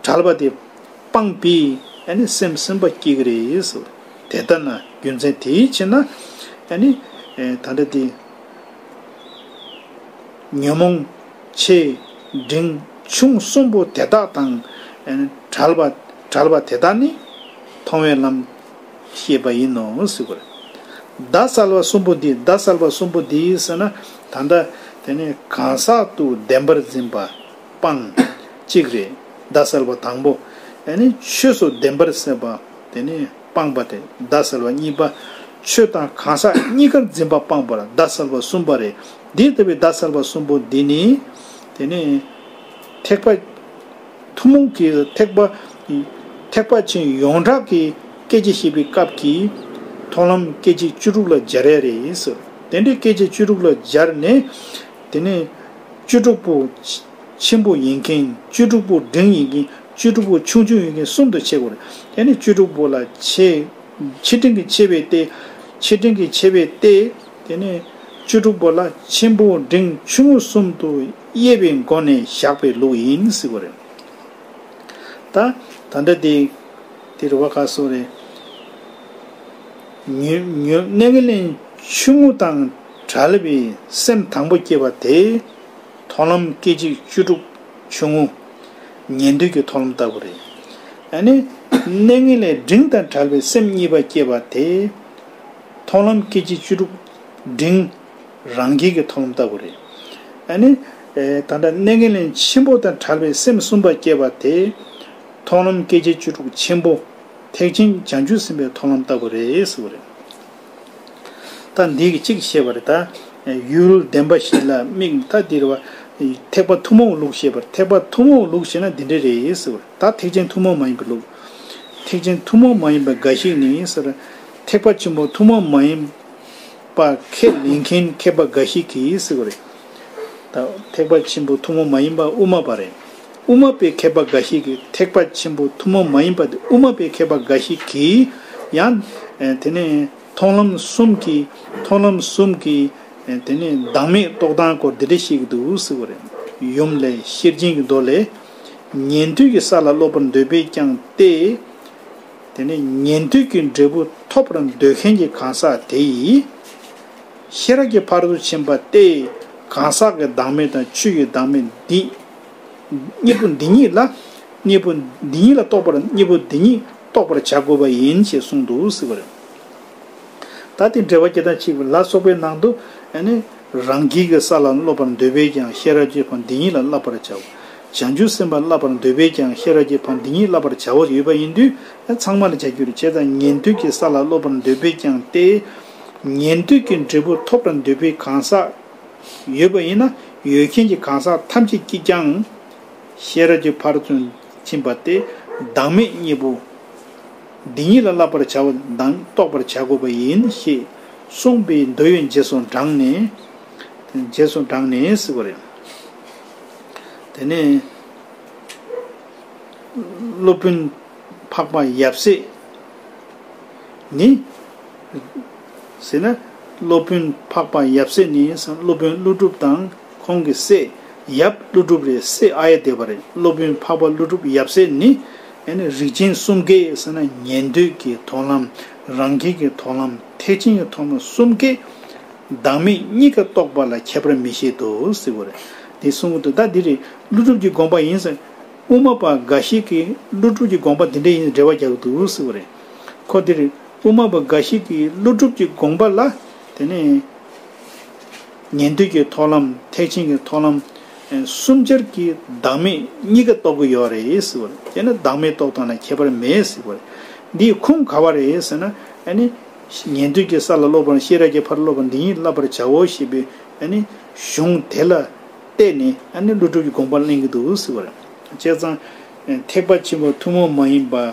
བྲལ་བ་སྟེ། སྤངས་པས་ནི་སེམས་སེམས་པ་སྐྱེ་གི་རེད་ཟེར། དེ་ལྟ་ན་རྒྱུ་མཚན་དེའི་ཕྱིར་ན། ད་ལྟ་དེ། ཉོན་མོངས། ཆེ། འབྲིང། ཆུང་གསུམ་པོ་དེ་དག་དང། བྲལ་བ། བྲལ་བ་དེ་དག་ནི། མཐོང་བའི་ལམ། ཤེས་པ་ཡིན་ནོ་ཟེར། བརྡ་གསལ་བ་གསུམ་པོ་འདི་བརྡ་གསལ་བ་གསུམ་པོ་འདི་ཟེར་ན། ད་ལྟ། དེ་ནི་གང་ཟག་ཏུ་བདེན་པར་འཛིན་པ། སྤང། གཅིག་རེ། ཟླ་གསལ་བ་དང་པོ། ཡང་ནི་ཆོས་སོགས་བདེན་པར་སེལ་བ། དེ་ནི་སྤངས་པ་སྟེ་ཟླ་གསལ་བ་གཉིས་པ། ཆོས་དང་གང་ཟག་གཉིས་ཀར་འཛིན་པ་སྤངས་པར་ཟླ་གསལ་བ་གསུམ་པ་རེ། འདི་ལྟ་བུའི་ཟླ་གསལ་བ་གསུམ་པོ་འདི་ནི། དེ་ནི། ཐེག་པ། ཐུན་མོང་གི་ཐེག་པ། ཐེག་པ་ཆེན་ཡོངས་གྲགས་ཀྱི་སྐད་ཅིག་ཤེས་པའི་སྐབས་ཀྱི། མཐོང་ལམ་སྐད་ཅིག་བཅུ་དྲུག་ལ་སྦྱར་ཡ་རེ། དེ་འདྲའི་སྐད་ཅིག་བཅུ་དྲུག་ལ་སྦྱར་ནས། དེ་ནས། བཅུ་དྲུག་པོ། ཆེན་པོ་ཡིན་མཁན་བཅུ་དྲུག་པོ་འབྲིང་ཡིན་མཁན་བཅུ་དྲུག་པོ་ཆུང་ཆུང་ཡིན་མཁན་གསུམ་དུ་ཕྱེ་དགོས་རེད། དེ་ནས་བཅུ་དྲུག་པོ་ལ་ཕྱེ། ཆེ་འབྲིང་གི་ཕྱེ་བས་ཏེ། ཆེ་འབྲིང་གི་ཕྱེ་བས་ཏེ། དེ་ནས། བཅུ་དྲུག་པོ་ལ་ཆེན་པོ་འབྲིང་ཆུང་ངུ་གསུམ་དུ་དབྱེ་བའི་སྒོ་ནས་བཞག་པའི་ལུགས་ཡིན་སྲིད་དགོས་རེད། ད། ད་འདྲ་དེ། དེ་རེད་བ་ག་སོགས་རེད། ཉོན། ཉོན། གནས་ངན་ལེན་ཆུང་ངུ་དང། བྲལ་བའི་སེམས་དང་པོ་སྐྱེས་པ་དེས། མཐོང་ལམ་སྐད་ཅིག་བཅུ་དྲུག་ཆུང་ངུ། ཉན་ཐོས་ཀྱི་མཐོང་ལམ་ལྟ་བུ་རེད། ཡང་ན། གནས་ངན་ལས་འབྲིང་དང་བྲལ་བའི་སེམས་གཉིས་པ་སྐྱེས་པ་དེས། མཐོང་ལམ་སྐད་ཅིག་བཅུ་དྲུག། འབྲིང། རང་རྒྱལ་གྱི་མཐོང་ལམ་ལྟ་བུ་རེད། ཡང་ན། ད་ལྟ་གནས་ངན་ལེན་ཆེན་པོ་དང་བྲལ་བའི་སེམས་གསུམ་པ་སྐྱེས་པ་དེས། མཐོང་ལམ་སྐད་ཅིག་བཅུ་དྲུག་ཆེན་པོ། ཐེག་ཆེན་སྦྱང་རྒྱུད་ཟིན་པའི་མཐོང་ལམ་ལྟ་བུ་རེད་ཟེར་བ་རེད། ད་འདི་གི་གཅིག་ཤེས་པར་གདའ། ཡུལ་བདེན་པ་ཞིག་ལ་དམིགས་ན་ད་འདིར་བ། ཐེག་པ་ཐུན་མོང་ལུགས་ཤེས་པར་ཐེག་པ་ཐུན་མོང་ལུགས་ཤེས་ན་འདི་འདྲ་རེད་ཟེར་བ། ད་ཐེག་ཆེན་ཐུན་མོང་མ་ཡིན་པའི་ལུགས། ཐེག་ཆེན་ཐུན་མོང་མ་ཡིན་པ་འགའ་ཞིག་ནི་ཟེར། ཐེག་པ་ཆེན་པོ་ཐུན་མོང་མ་ཡིན་པ་ཁས་ལེན་མཁན་མཁས་པ་འགའ་ཞིག་གིས་ཟེར་བ་རེད། ད་ཐེག་པ་ཆེན་པོ་ཐུན་མོང་མ་ཡིན་པ་དབུ་མ་པ་རེད། དབུ་མ་པའི་མཁས་པ་འགའ་ཞིག་གིས་ཐེག་པ་ཆེན་པོ་ཐུན་མོང་མ་ཡིན་པ་དེ་དབུ་མ་པའི་མཁས་པ་འགའ་ཞིག་གིས་ཡང། དེ་ནས་མཐོང་ལམ་གསུམ་གྱིས་མཐོང་ལམ་གསུམ་གྱིས། དེ་ནས་བདག་མེད་རྟོག་ལྡང་སྐོར་འདི་འདྲ་ཞིག་གི་འདུག་ཟེར་བ་རེད། ཡུམ་ལས་ཤེར་རྒྱན་གྱི་མདོ་ལས། ཉན་ཐོས་ཀྱི་ས་ལ་སློབ་པར་འདོད་པས་ཀྱང་སྟེ། དེ་ནས་ཉན་ཐོས་ཀྱི་འབྲས་བུ་ཐོབ་པར་འདོད་མཁན་གྱི་གང་ཟག་དེ་ཡིས། ཤེས་རབ་ཀྱི་བར་དུ་ཕྱིན་པ་སྟེ། གང་ཟག་གི་བདག་མེད་དང་ཆོས་ཀྱི་བདག་མེད་འདི། གཉིས་པོ་འདི་ཉིད་ལ། གཉིས་པོ་འདི་ཉིད་ལ་རྟོགས་པར་གཉིས་པོ་འདི་ཉིད་རྟོགས་པར་བྱ་དགོས་པ་ཡིན་ཞེས་གསུངས་འདུག་ཟེར་བ་རེད། ད་དེ་འགྲེལ་བ་སྐྱེ་དང་འཆི་བ་ལ་སོགས་པའི་ནང་དུ། རང་རྒྱལ་གྱི་ས་ལ་སློབ་པར་འདོད་པས་ཀྱང་ཤེས་རབ་ཀྱི་བ་འདི་ཉིད་ལ་བསླབ་པར་བྱའོ། བྱང་ཆུབ་སེམས་དཔའ་བསླབ་པར་འདོད་པས་ཀྱང་ཤེས་རབ་ཀྱི་བ་འདི་ཉིད་བསླབ་པར་བྱའོ་ཡོད་པ་ཡིན་དུས་ཚང་མར་བྱ་རྒྱུར་བྱས་དང་ཉན་ཐོས་ཀྱི་ས་ལ་སློབ་པར་འདོད་པས་ཀྱང་སྟེ། ཉན་ཐོས་ཀྱི་འབྲས་བུ་ཐོབ་པར་འདོད་པས་གང་ཟག། ཡོད་པ་ཡིན་ན་ཡོད་མཁན་གྱི་གང་ཟག་ཐམས་ཅད་ཀྱིས་ཀྱང། ཤེས་རབ་ཀྱི་ཕར་ཚུན་ཕྱིན་པ་སྟེ་བདག་མེད་གཉིས་པོ། འདི་གཉིས་ལ་བསླབ་པར་བྱ་བ་དང་རྟོགས་པར་བྱ་དགོས་པ་ཡིན་ཞེས་གསུངས་པའི་མདོ་ཡོན་རྗེས་སུ་འབྲངས་ནས། རྗེས་སུ་འབྲངས་ནས་ཟེར་བ་རེད། དེ་ནས། སློབ་དཔོན་འཕགས་པ་ཡབ་སྲས་ནི། ཟེར་ན། སློབ་དཔོན་འཕགས་པ་ཡབ་སྲས་ནི་སློབ་དཔོན་ཀླུ་སྒྲུབ་དང་ཁོང་གི་སྲས་ཡབ་ཀླུ་སྒྲུབ་རེད་སྲས་ཨ་ཡེ་བདེ་བ་རེད་སློབ་དཔོན་འཕགས་པ་ཀླུ་སྒྲུབ་ཡབ་སྲས་ནི། རིགས་ཅན་གསུམ་ཀའི་ཟེར་ན་ཉན་ཐོས་ཀྱི་མཐོང་ལམ་རང་རྒྱལ་གྱི་མཐོང་ལམ་ཐེག་ཆེན་གྱི་མཐོང་ལམ་གསུམ་ཀའི་བདག་མེད་གཉིས་ཀ་རྟོགས་པ་ལ་ཁྱད་པར་མི་བཞེད་དོ་ཟེར་བ་རེད། དེ་གསུང་གི་འདུག་ད་འདི་རེད་ཀླུ་སྒྲུབ་ཀྱི་དགོངས་པ་ཡིན་ཟེར། དབུ་མ་པ་འགའ་ཞིག་གིས་ཀླུ་སྒྲུབ་ཀྱི་དགོངས་པ་འདི་འདྲ་ཡིན་ཟེར་འགྲེལ་བ་རྒྱག་གི་འདུག་ཟེར་བ་རེད། ཁོ་འདི་རེད། དབུ་མ་པ་འགའ་ཞིག་གིས་ཀླུ་སྒྲུབ་ཀྱི་དགོངས་པ་ལ། དེ་ནས་ཉན་ཐོས་ཀྱི་ཐོག་ལམ་ཐེག་ཆེན་གྱི་ཐོག་ལམ། གསུམ་ཆར་གྱི་བདག་མེད་གཉིས་ཀ་རྟོགས་ཀྱི་ཡོད་རེད་ཟེར་བ་རེད། དེས་ན་བདག་མེད་རྟོགས་དོན་ལ་ཁྱད་པར་མེད་ཟེར་བ་རེད། འདིའི་ཁུངས་ག་བ་རེད་ཟེར་ན། ཉན་ཐོས་ཀྱི་ས་ལ་སློབ་པར་ཤེས་རབ་ཀྱི་ཕར་སློབ་པ་འདི་ཉིད་བསླབ་པར་བྱའོ་ཞེས་པའི་གཞུང་དེ་ལ་བལྟས་ནས་ཀླུ་སྒྲུབ་ཀྱི་དགོངས་པ་གླེང་གི་འདུག་ཟེར་བ་རེད། བྱས་ཙང་ཐེག་པ་ཆེན་པོ་ཐུན་མོང་མ་ཡིན་པ།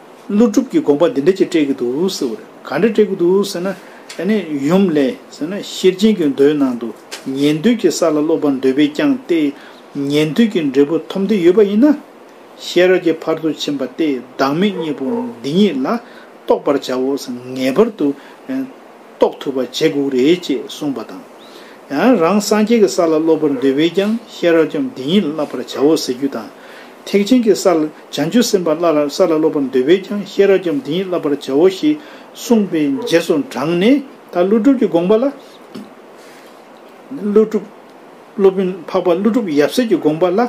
ཀླུ་སྒྲུབ་ཀྱི་དགོངས་པ་འདི་འདྲ་ཅིག་སྤྲད་ཀྱི་འདུག་ཟེར་བར་ག་འདྲ་སྤྲད་ཀྱི་འདུག་ཟེར་ན། དེ་ནས་ཡུམ་ལས་ཟེར་ན་ཤེར་ཕྱིན་གྱི་མདོའི་ནང་དུ་ཉན་ཐོས་ཀྱི་ས་ལ་སློབ་པར་འདོད་པས་བསྐྱངས་ཏེ། ཉན་ཐོས་ཀྱི་འབྲས་བུ་ཐོབ་འདོད་ཡོད་པ་ཡིན་ན། ཤེས་རབ་ཀྱི་བར་དུ་ཕྱིན་པ་སྟེ་བདག་མེད་གཉིས་པོ་འདི་ཉིད་ལ་རྟོགས་པར་བྱའོ་ཟེར་ངེས་པར་དུ་རྟོགས་ཐུབ་པ་བྱེད་དགོས་རེད་ཅེས་གསུངས་པ་དང། ཡང་རང་སངས་རྒྱས་ཀྱི་ས་ལ་སློབ་པར་འདོད་པས་ཀྱང་ཤེས་རབ་ཀྱང་འདི་ཉིད་ལ་བསླབ་པར་བྱའོ་ཟེར་རྒྱུ་དང། ཐེག་ཆེན་གྱི་ས་ལ་བྱང་ཆུབ་སེམས་དཔའ་སླར་ཡང་ས་ལ་སློབ་པར་འདོད་པས་ཀྱང་ཤེས་རབ་ཀྱང་འདི་ཉིད་བསླབ་པར་བྱའོ་ཞེས་གསུངས་པའི་རྗེས་སུ་འབྲངས་ནས་ད་ཀླུ་སྒྲུབ་ཀྱི་དགོངས་པ་ལ། ཀླུ་སྒྲུབ། སློབ་དཔོན་འཕགས་པ་ཀླུ་སྒྲུབ་ཡབ་སྲས་ཀྱི་དགོངས་པ་ལ་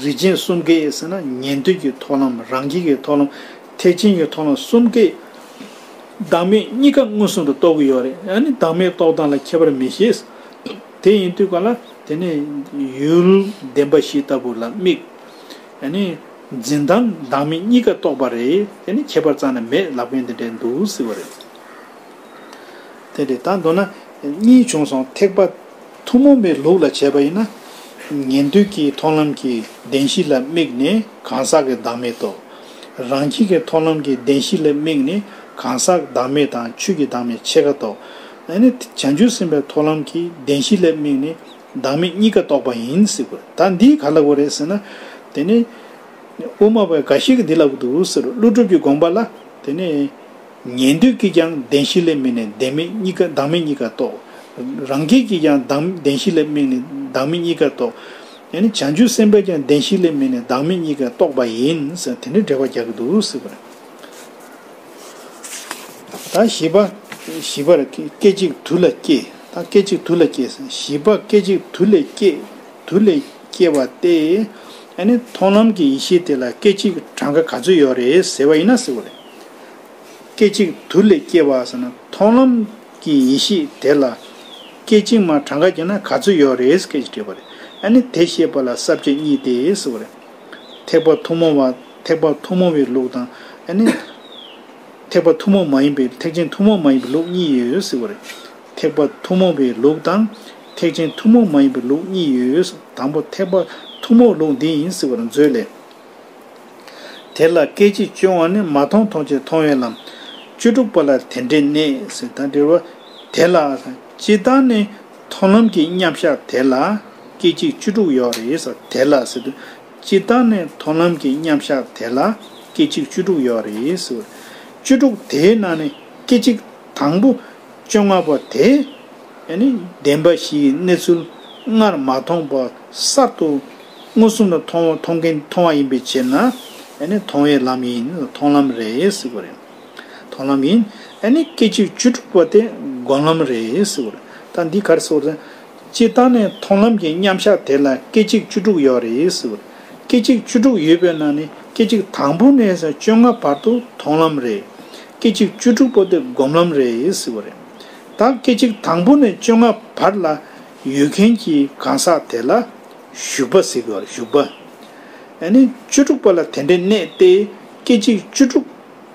རིགས་ཅན་གསུམ་ཀའི་ཟེར་ན་ཉན་ཐོས་ཀྱི་ཐོག་ལམ་རང་རྒྱལ་གྱི་ཐོག་ལམ་ཐེག་ཆེན་གྱི་ཐོག་ལམ་གསུམ་ཀའི་བདག་མེད་གཉིས་ཀ་མངོན་སུམ་དུ་རྟོགས་ཀྱི་ཡོད་རེད་ཡང་ནི་བདག་མེད་རྟོགས་སྟངས་ལ་ཁྱད་པར་མི་ཤེས། དེ་ཡིན་དུས་ག་ལ་དེ་ནས་ཡུལ་བདེན་པ་བཞི་ལྟ་བུ་ལ་དམིགས། ནི། འཛིན་སྟངས་བདག་མེད་གཉིས་ཀ་རྟོགས་པ་རེད་དེ་ནི་ཁྱད་པར་རྩ་ནས་མེད་ལག་པས་འདི་འདྲའི་འདུག་ཟེར་བ་རེད། དེ་འདྲའི་དང་མདོར་ན་གཉིས་བྱུང་སོང་ཐེག་པ་ཐུན་མོང་པའི་ལུགས་ལ་བྱས་པ་ཡིན་ན། ཉན་ཐོས་ཀྱི་མཐོང་ལམ་གྱི་བདེན་བཞི་ལ་དམིགས་ནས་གང་ཟག་གི་བདག་མེད་རྟོགས། རང་ཁྱིད་ཀྱི་མཐོང་ལམ་གྱི་བདེན་བཞི་ལ་དམིགས་ནས་གང་ཟག་བདག་མེད་དང་ཆོས་ཀྱི་བདག་མེད་ཕྱེད་ཀ་རྟོགས། ཨ་ནི། བྱང་ཆུབ་སེམས་དཔའི་ཐོག་ལམ་གྱི་བདེན་བཞི་ལྷའི་མིག་ནི། བདག་མེད་གཉིས་ཀ་རྟོགས་པ་ཡིན་ཟེར་གོ། ད་འདིས་ག་ལ་གོ་རེད་ཟེར་ན། དེ་ནི། དབུ་མ་བས་འགའ་ཞིག་གིས་འདི་ལ་གོ་འདུག་ཟེར་རོ། ཀླུ་སྒྲུབ་ཀྱི་དགོངས་པ་ལ། དེ་ནི། ཉན་ཐོས་ཀྱིས་ཀྱང་བདེན་བཞི་ལྷའི་མིག་ནས་བདེན་མེད་གཉིས་ཀ་བདག་མེད་གཉིས་ཀ་རྟོགས། རང་རྒྱལ་གྱིས་ཀྱང་བདག་བདེན་བཞི་ལྷའི་མིག་ནས་བདག་མེད་གཉིས་ཀ་རྟོགས། ཡང་ནི་བྱང་ཆུབ་སེམས་དཔས་ཀྱང་བདེན་བཞི་ལྷའི་མིག་ནས་བདག་མེད་གཉིས་ཀ་རྟོགས་པ་ཡིན་ཟེར་ན་དེ་འདྲའི་འགྲེལ་བ་རྒྱག་གི་འདུག་ཟེར་གོ། དང་བཞི་པ། བཞི་པར་སྐད་ཅིག་དུ་ལ་སྐྱེ། དང་སྐད་ཅིག་དུ་ལ་སྐྱེ། བཞི་པ་སྐད་ཅིག་དུ་ལས་སྐྱེ། དུ་ལས་སྐྱེ་བ་སྟེ། ཨ་ནི་མཐོང་ལམ་གྱི་ཡེ་ཤེས་དེ་ལ་སྐད་ཅིག་གྲངས་ཀ་ག་ཚོད་ཡོད་རེད་ཟེར་བ་ཡིན་ན་ཟེར་བ་ལས། སྐད་ཅིག་དུ་ལས་སྐྱེ་བ་ཟེར་ན་མཐོང་ལམ་གྱི་ཡེ་ཤེས་དེ་ལ་སྐད་ཅིག་མ་གྲངས་ཀ་གྱིས་ན་ག་ཚོད་ཡོད་རེད་སྐད་ཅིག་དྲིས་པ་ལས། ཨ་ནི་དེ་ཤེས་པ་ལ་ས་བཅད་གཉིས་ཏེ་ཟེར་བ་ལས། ཐེག་པ་ཐུན་མོང་བ། ཐེག་པ་ཐུན་མོང་བའི་ལུགས་དང། ཐེག་པ་ཐུན་མོང་མ་ཡིན་པའི་ཐེག་ཆེན་ཐུན་མོང་མ་ཡིན་པའི་ལུགས་གཉིས་ཡོད་ཟེར་བ་རེད། ཐེག་པ་ཐུན་མོང་བའི་ལུགས་དང། ཐེག་ཆེན་ཐུན་མོང་མ་ཡིན་པའི་ལུགས་གཉིས་ཡོད། དང་པོ་ཐེག་པ་ཐུན་མོང་ལུགས་འདི་ཡིན་ཟེར་བར་མཛོད་ལས། དེ་ལ་སྐད་ཅིག་སྤྱོད་བ་ནི་མ་མཐོང་མཐོང་བྱེད་མཐོང་བའི་ལམ། བཅུ་དྲུག་པ་ལ་དེ་འདྲའི་གནས་ཟེར་དང་འབྲེལ་བ། དེ་ལ། སྤྱི་དང་ནི། མཐོང་ལམ་གྱི་མཉམ་གཞག་དེ་ལ། སྐད་ཅིག་བཅུ་དྲུག་ཡོད་རེད། དེ་ལ། སྤྱིར་བཏང་ནས་དོ་ནམ་གྱི་མཉམ་བཞག་དེ་ལ་སྐད་ཅིག་བཅུ་དྲུག་ཡོད་རེད་ཟེར། བཅུ་དྲུག་དེའི་ནང་ནས་སྐད་ཅིག་དང་པོ་བཅོ་ལྔ་པ་དེ་ནི་བདེན་པ་བཞིའི་གནས་ཚུལ་སྔར་མ་མཐོང་བ་གསར་དུ་མངོན་སུམ་ལ་མཐོང་བ་མཐོང་མཁན་མཐོང་བ་ཡིན་པའི་ཕྱིར་ན་མཐོང་བའི་ལམ་ཡིན་མཐོང་ལམ་རེད་ཟེར་བ་རེད། མཐོང་ལམ་ཡིན། སྐད་ཅིག་བཅུ་དྲུག་པ་དེ་སྒོམ་ལམ་རེད་ཟེར་བ་རེད། ད་འདི་གར་སོ། སྤྱིར་བཏང་ནས་མཐོང་ལམ་གྱི་མཉམ་གཞག་དེ་ལ་སྐད་ཅིག་བཅུ་དྲུག་ཡོད་རེད། སྐད་ཅིག་བཅུ་དྲུག་ཡོད་པའི་ནང་ནས་སྐད་ཅིག་དང་པོ་ནས་བཅོ་ལྔ་བར་དུ་མཐོང་ལམ་རེད། སྐད་ཅིག་བཅུ་དྲུག་པོ་དེ་སྒོམ་ལམ་རེད། ད་སྐད་ཅིག་དང་པོ་ནས་བཅོ་ལྔ་བར་ལ་ཡོད་མཁན་གྱི་གང་ཟག་དེ་ལ་ཞུགས་པ་ཟེར་གི་རེད། བཅུ་དྲུག་པོ་ལ་དེ་འདྲའི་གནས་ཏེ་སྐད་ཅིག་བཅུ་དྲུག།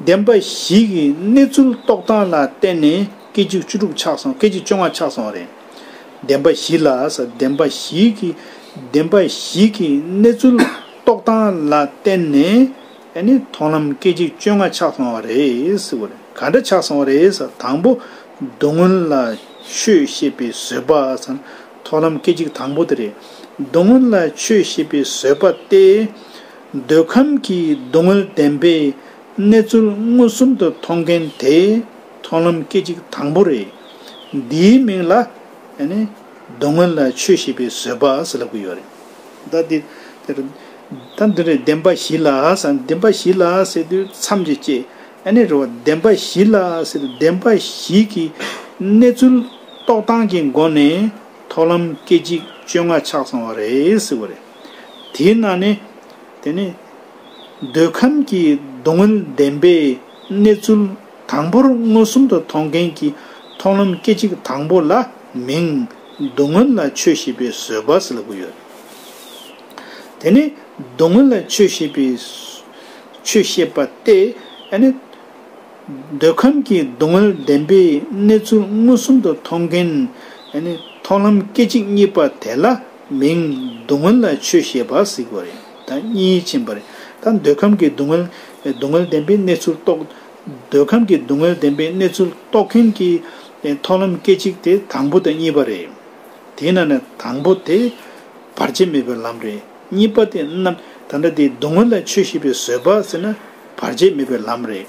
བདེན་པ་ཞིག་གི་གནས་ཚུལ་རྟོགས་སྟངས་ལ་བརྟེན་ནས་སྐད་ཅིག་བཅུ་དྲུག་ཆགས་སོང་སྐད་ཅིག་བཅོ་ལྔ་ཆགས་སོང་རེད། བདེན་པ་ཞིག་ལ་ཟེར་བདེན་པ་ཞིག་གི་བདེན་པ་ཞིག་གི་གནས་ཚུལ་རྟོགས་སྟངས་ལ་བརྟེན་ནས་ནི་མཐོང་ལམ་སྐད་ཅིག་བཅོ་ལྔ་ཆགས་སོང་བ་རེད། ག་འདྲ་ཆགས་སོང་བ་རེད། དང་པོ་སྡུག་བསྔལ་ལ་ཆོས་ཤེས་པའི་བཟོད་པ། མཐོང་ལམ་སྐད་ཅིག་དང་པོ་དེ་རེད། སྡུག་བསྔལ་ལ་ཆོས་ཤེས་པའི་བཟོད་པ་སྟེ། འདོད་ཁམས་ཀྱི་སྡུག་བསྔལ་བདེན་པའི་གནས་ཚུལ་མངོན་སུམ་དུ་མཐོང་མཁན་དེ་མཐོང་ལམ་སྐད་ཅིག་དང་པོ་རེད། འདིའི་མིང་ལ། སྡུག་བསྔལ་ལ་ཆོས་ཤེས་པའི་བཟོད་པ་ཟེར་ལབ་གི་ཡོད་རེད། ད་འདི་དེར། ད་འདི་རེད་བདེན་པ་བཞི་ལ་ཟེར་ན་བདེན་པ་བཞི་ལ་ཟེར་དུས་མཚམས་ཀྱི་སྐྱེ། ཨ་ནི་རེད་བ། བདེན་པ་བཞི་ལ་ཟེར་དུས་བདེན་པ་བཞི་གི་གནས་ཚུལ་རྟོགས་སྟངས་ཀྱི་སྒོ་ནས་མཐོང་ལམ་སྐད་ཅིག་བཅོ་ལྔ་ཆགས་སོང་བ་རེད་ཟེར་བ་རེད། དེས་ན་ནི། དེ་ནི། འདོད་ཁམས་ཀྱི་སྡུག་བསྔལ་བདེན་པའི་གནས་ཚུལ་དང་པོར་མངོན་སུམ་དུ་མཐོང་མཁན་གྱི་མཐོང་ལམ་སྐད་ཅིག་དང་པོ་ལ་མིང། སྡུག་བསྔལ་ལ་ཆོས་ཤེས་པའི་བཟོད་པ་ཟེར་དགོས་ཡོད། དེ་ནི་སྡུག་བསྔལ་ལ་ཆོས་ཤེས་པའི། ཆོས་ཤེས་པ་སྟེ། འདོད་ཁམས་ཀྱི་སྡུག་བསྔལ་བདེན་པའི་གནས་ཚུལ་མངོན་སུམ་དུ་མཐོང་མཁན། མཐོང་ལམ་སྐད་ཅིག་གཉིས་པ་དེ་ལ་མིང། སྡུག་བསྔལ་ལ་ཆོས་ཤེས་པ་གཟིགས་པ་རེད་ད་གཉིས་ཕྱིན་པ་རེད་ད་འདོད་ཁམས་ཀྱི་སྡུག་བསྔལ། སྡུག་བསྔལ་བདེན་པའི་གནས་ཚུལ་རྟོགས། འདོད་ཁམས་ཀྱི་སྡུག་བསྔལ་བདེན་པའི་གནས་ཚུལ་རྟོགས་མཁན་གྱི། མཐོང་ལམ་སྐད་ཅིག་དེ་དང་པོ་དང་གཉིས་པ་རེད། དེས་ན་ནི་དང་པོ་དེ། བར་ཆད་མེད་པའི་ལམ་རེད་གཉིས་པ་དེ། ད་ལྟ་དེ་སྡུག་བསྔལ་ལ་ཆོས་ཤེས་པའི་བཟོད་པ་ཟེར་ན། བར་ཆད་མེད་པའི་ལམ་རེད།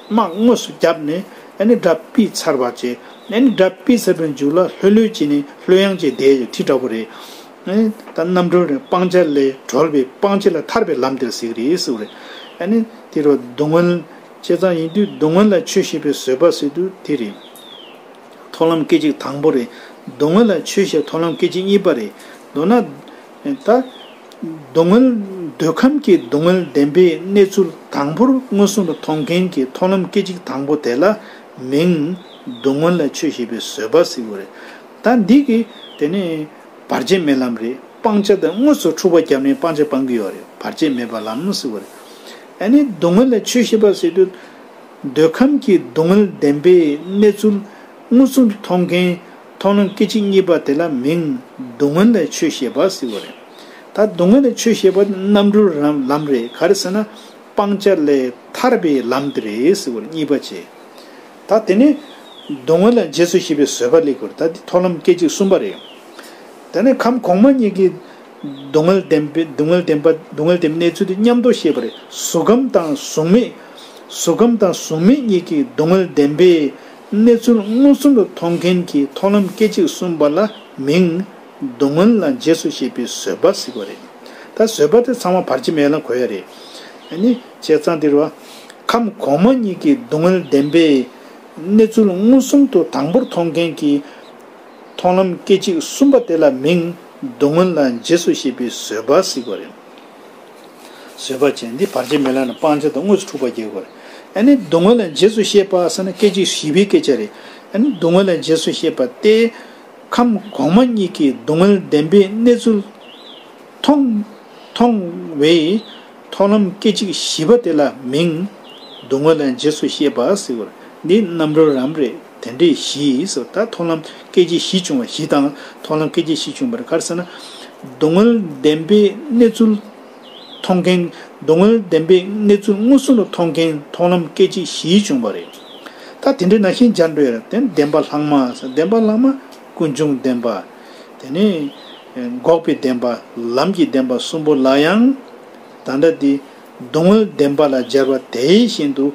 དམག་དངོས་སུ་བརྒྱབ་ནས་ནི་དགྲ་སྤིས་ཚར་བར་བྱེད། ནི་དགྲ་སྤིས་ཚར་པའི་མཇུག་ལ་ལྷོད་ལྷོད་ཀྱིས་ནི་ལྷོད་གཡང་གཅིག་དེའི་ཁྲི་འདྲ་བོ་རེད། ད་རྣམ་གྲོལ་རེད་སྤང་བྱ་ལས་གྲོལ་བའི་སྤང་བྱ་ལ་ཐར་པའི་ལམ་དེར་གཟིགས་རེད་གཟིགས་རེད། ནི་དེ་རུ་སྡུག་བསྔལ་ཆེ་ཙང་ཡིན་དུས་སྡུག་བསྔལ་ལ་ཆོས་ཤེས་པའི་བཟོད་པ་སྲིད་དུ་དེ་རེད། མཐོང་ལམ་སྐད་ཅིག་དང་པོ་རེད། སྡུག་བསྔལ་ལ་ཆོས་ཤེས་མཐོང་ལམ་སྐད་ཅིག་གཉིས་པ་རེད། མདོར་ན། ད། སྡུག་བསྔལ། འདོད་ཁམས་ཀྱི་སྡུག་བསྔལ་བདེན་པའི་གནས་ཚུལ་དང་པོར་མངོན་སུམ་དུ་མཐོང་མཁན་གྱི་མཐོང་ལམ་སྐད་ཅིག་དང་པོ་དེ་ལ་མིང། སྡུག་བསྔལ་ལ་ཆོས་ཤེས་པའི་བཟོད་པ་ཟེར་དགོས་རེད། ད་འདི་གི། དེ་ནི། བར་ཆད་མེད་ལམ་རེད། སྤང་བྱ་དང་དངོས་སུ་འཁྲུག་པ་བརྒྱབ་ནས་སྤང་བྱ་སྤང་གི་ཡོད་རེད་བར་ཆད་མེད་པ་ལམ་ཟེར་དགོས་རེད། ཨ་ནི་སྡུག་བསྔལ་ལ་ཆོས་ཤེས་པ་ཟེར་དུས། འདོད་ཁམས་ཀྱི་སྡུག་བསྔལ་བདེན་པའི་གནས་ཚུལ་མངོན་སུམ་དུ་མཐོང་མཁན། མཐོང་སྣང་སྐད་ཅིག་གཉིས་པ་དེ་ལ་མིང། སྡུག་བསྔལ་ལས་ཆོས་ཤེས་པ་ཟེར་བ་རེད། ད་སྡུག་བསྔལ་ལས་ཆོས་ཤེས་པ་དེ་རྣམ་གྲོལ་རང་ལམ་རེད་ག་རེ་ཟེར་ན། སྤང་བྱ་ལས་ཐར་པའི་ལམ་དེ་རེད་ཟེར་བར་གཉིས་པ་བྱེད། ད་དེ་ནས། སྡུག་བསྔལ་ལ་རྗེས་སུ་ཤེས་པའི་བཟོད་པ་སླེབས་དགོས་ད་འདི་མཐོང་ལམ་སྐད་ཅིག་གསུམ་པ་རེད། དེ་ནས་ཁམས་གོང་མ་གཉིས་ཀྱིས། སྡུག་བསྔལ་བདེན་པའི་སྡུག་བསྔལ་བདེན་པ་སྡུག་བསྔལ་བདེན་པའི་གནས་ཚུལ་དེ་མཉམ་རྟོགས་ཤེས་པ་རེད་གཟུགས་ཁམས་དང་གཟུགས་མེད། གཟུགས་ཁམས་དང་གཟུགས་མེད་གཉིས་ཀྱིས་སྡུག་བསྔལ་བདེན་པའི་གནས་ཚུལ་མངོན་སུམ་དུ་མཐོང་མཁན་གྱི་ཐོག་ལམ་སྐད་ཅིག་གསུམ་པ་ལ་མིང། བསྡུ་སྔོན་ལ་རྗེས་སུ་ཤེས་པའི་བཟོད་པ་གཟིགས་པ་རེད། ད་བཟོད་པ་དེ་ཚང་མ་བར་ཆད་མེད་ལ་གོ་ཡ་རེད། ནི། བྱས་ཙང་དེར་བ། ཁམས་གོང་མ་གཉིས་ཀྱི་བསྡུ་སྔོན་བདེན་པས། གནས་ཚུལ་མངོན་སུམ་དུ་དང་པོར་མཐོང་མཁན་གྱི་ཐོག་ལམ་སྐད་ཅིག་གསུམ་པ་དེ་ལ་མིང། བསྡུ་སྔོན་ལ་རྗེས་སུ་ཤེས་པའི་བཟོད་པ་གཟིགས་པ་རེད། བཟོད་པ་ཅན་འདི་བར་ཆད་མེད་ལགས་ན་སྤང་བྱ་དང་དངོས་སུ་འཁྲུག་པ་རྒྱལ་དགོས། སྡུག་བསྔལ་ལ་རྗེས་སུ་བཤད་པ་ས་ན་སྐད་ཅིག་བཞི་པའི་སྐད་ཆ་རེད། སྡུག་བསྔལ་ལ་རྗེས་སུ་བཤད་པ་སྟེ། ཁམས་གོང་མ་གཉིས་ཀྱི་སྡུག་བསྔལ་བདེན་པའི་གནས་ཚུལ། མཐོང། བའི། ཐོག་ལམ་སྐད་ཅིག་བཞི་པ་དེ་ལ་མིང། སྡུག་བསྔལ་ལ་རྗེས་སུ་བཤད་པ། འདི་རྣམ་རོལ་རམ་རེད། དེ་འདྲའི་གཞི་སོ་ད་མཐོང་ལམ་སྐད་ཅིག་བཞི་བྱུང་བ་བཞི་དང་མཐོང་ལམ་སྐད་ཅིག་བཞི་བྱུང་བར་གར་ས་ན། སྡུག་བསྔལ་བདེན་པའི་གནས་ཚུལ། མཐོང་མཁན། སྡུག་བསྔལ་བདེན་པའི་གནས་ཚུལ་མངོན་སུམ་དུ་མཐོང་མཁན་མཐོང་ལམ་སྐད་ཅིག་བཞི་བྱུང་བ་རེད། ད་དེ་འདྲའི་ན་ཤིང་སྦྱར་འདྲའི་རབ་བརྟན་བདེན་པ་ལྷག་མ་ཟེར་བདེན་པ་ལྷག་མ་ཀུན་འབྱུང་བདེན་པ། དེ་ནས། འགོག་པའི་བདེན་པ་ལམ་གྱི་བདེན་པ་གསུམ་པོ་ལ་ཡང། ད་འདྲ་སྟེ། སྡུག་བསྔལ་བདེན་པ་ལ་སྦྱར་བ་དེ་བཞིན་དུ་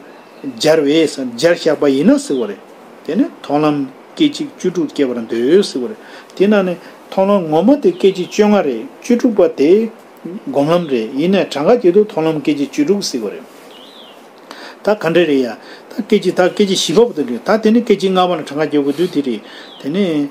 སྦྱར་བས་སམ་སྦྱར་བཞག་པ་ཡིན་ན་ཟེར་བ་རེད། དེ་ནི་མཐོང་ལམ་སྐད་ཅིག་བཅུ་དྲུག་སྐྱེ་བར་འདོད་ཟེར་བ་རེད། དེས་ན་ནི་མཐོང་ལམ་ངོ་མ་དེ་སྐད་ཅིག་བཅོ་ལྔ་རེད་བཅུ་དྲུག་པ་དེ་སྒོམ་ལམ་རེད་ཡིན་ནས་གྲངས་ཀ་བརྒྱད་དུ་མཐོང་ལམ་སྐད་ཅིག་བཅུ་དྲུག་ཟེར་བ་རེད། ད་ག་འདྲ་རེད་ཡ། ད་སྐད་ཅིག་ད་སྐད་ཅིག་བཞི་པ་པོ་དེ་རེད། ད་དེ་ནི་སྐད་ཅིག་ལྔ་པ་ན་གྲངས་ཀ་བརྒྱད་དགོས་དུས་དེ་རེད། དེ་ནི།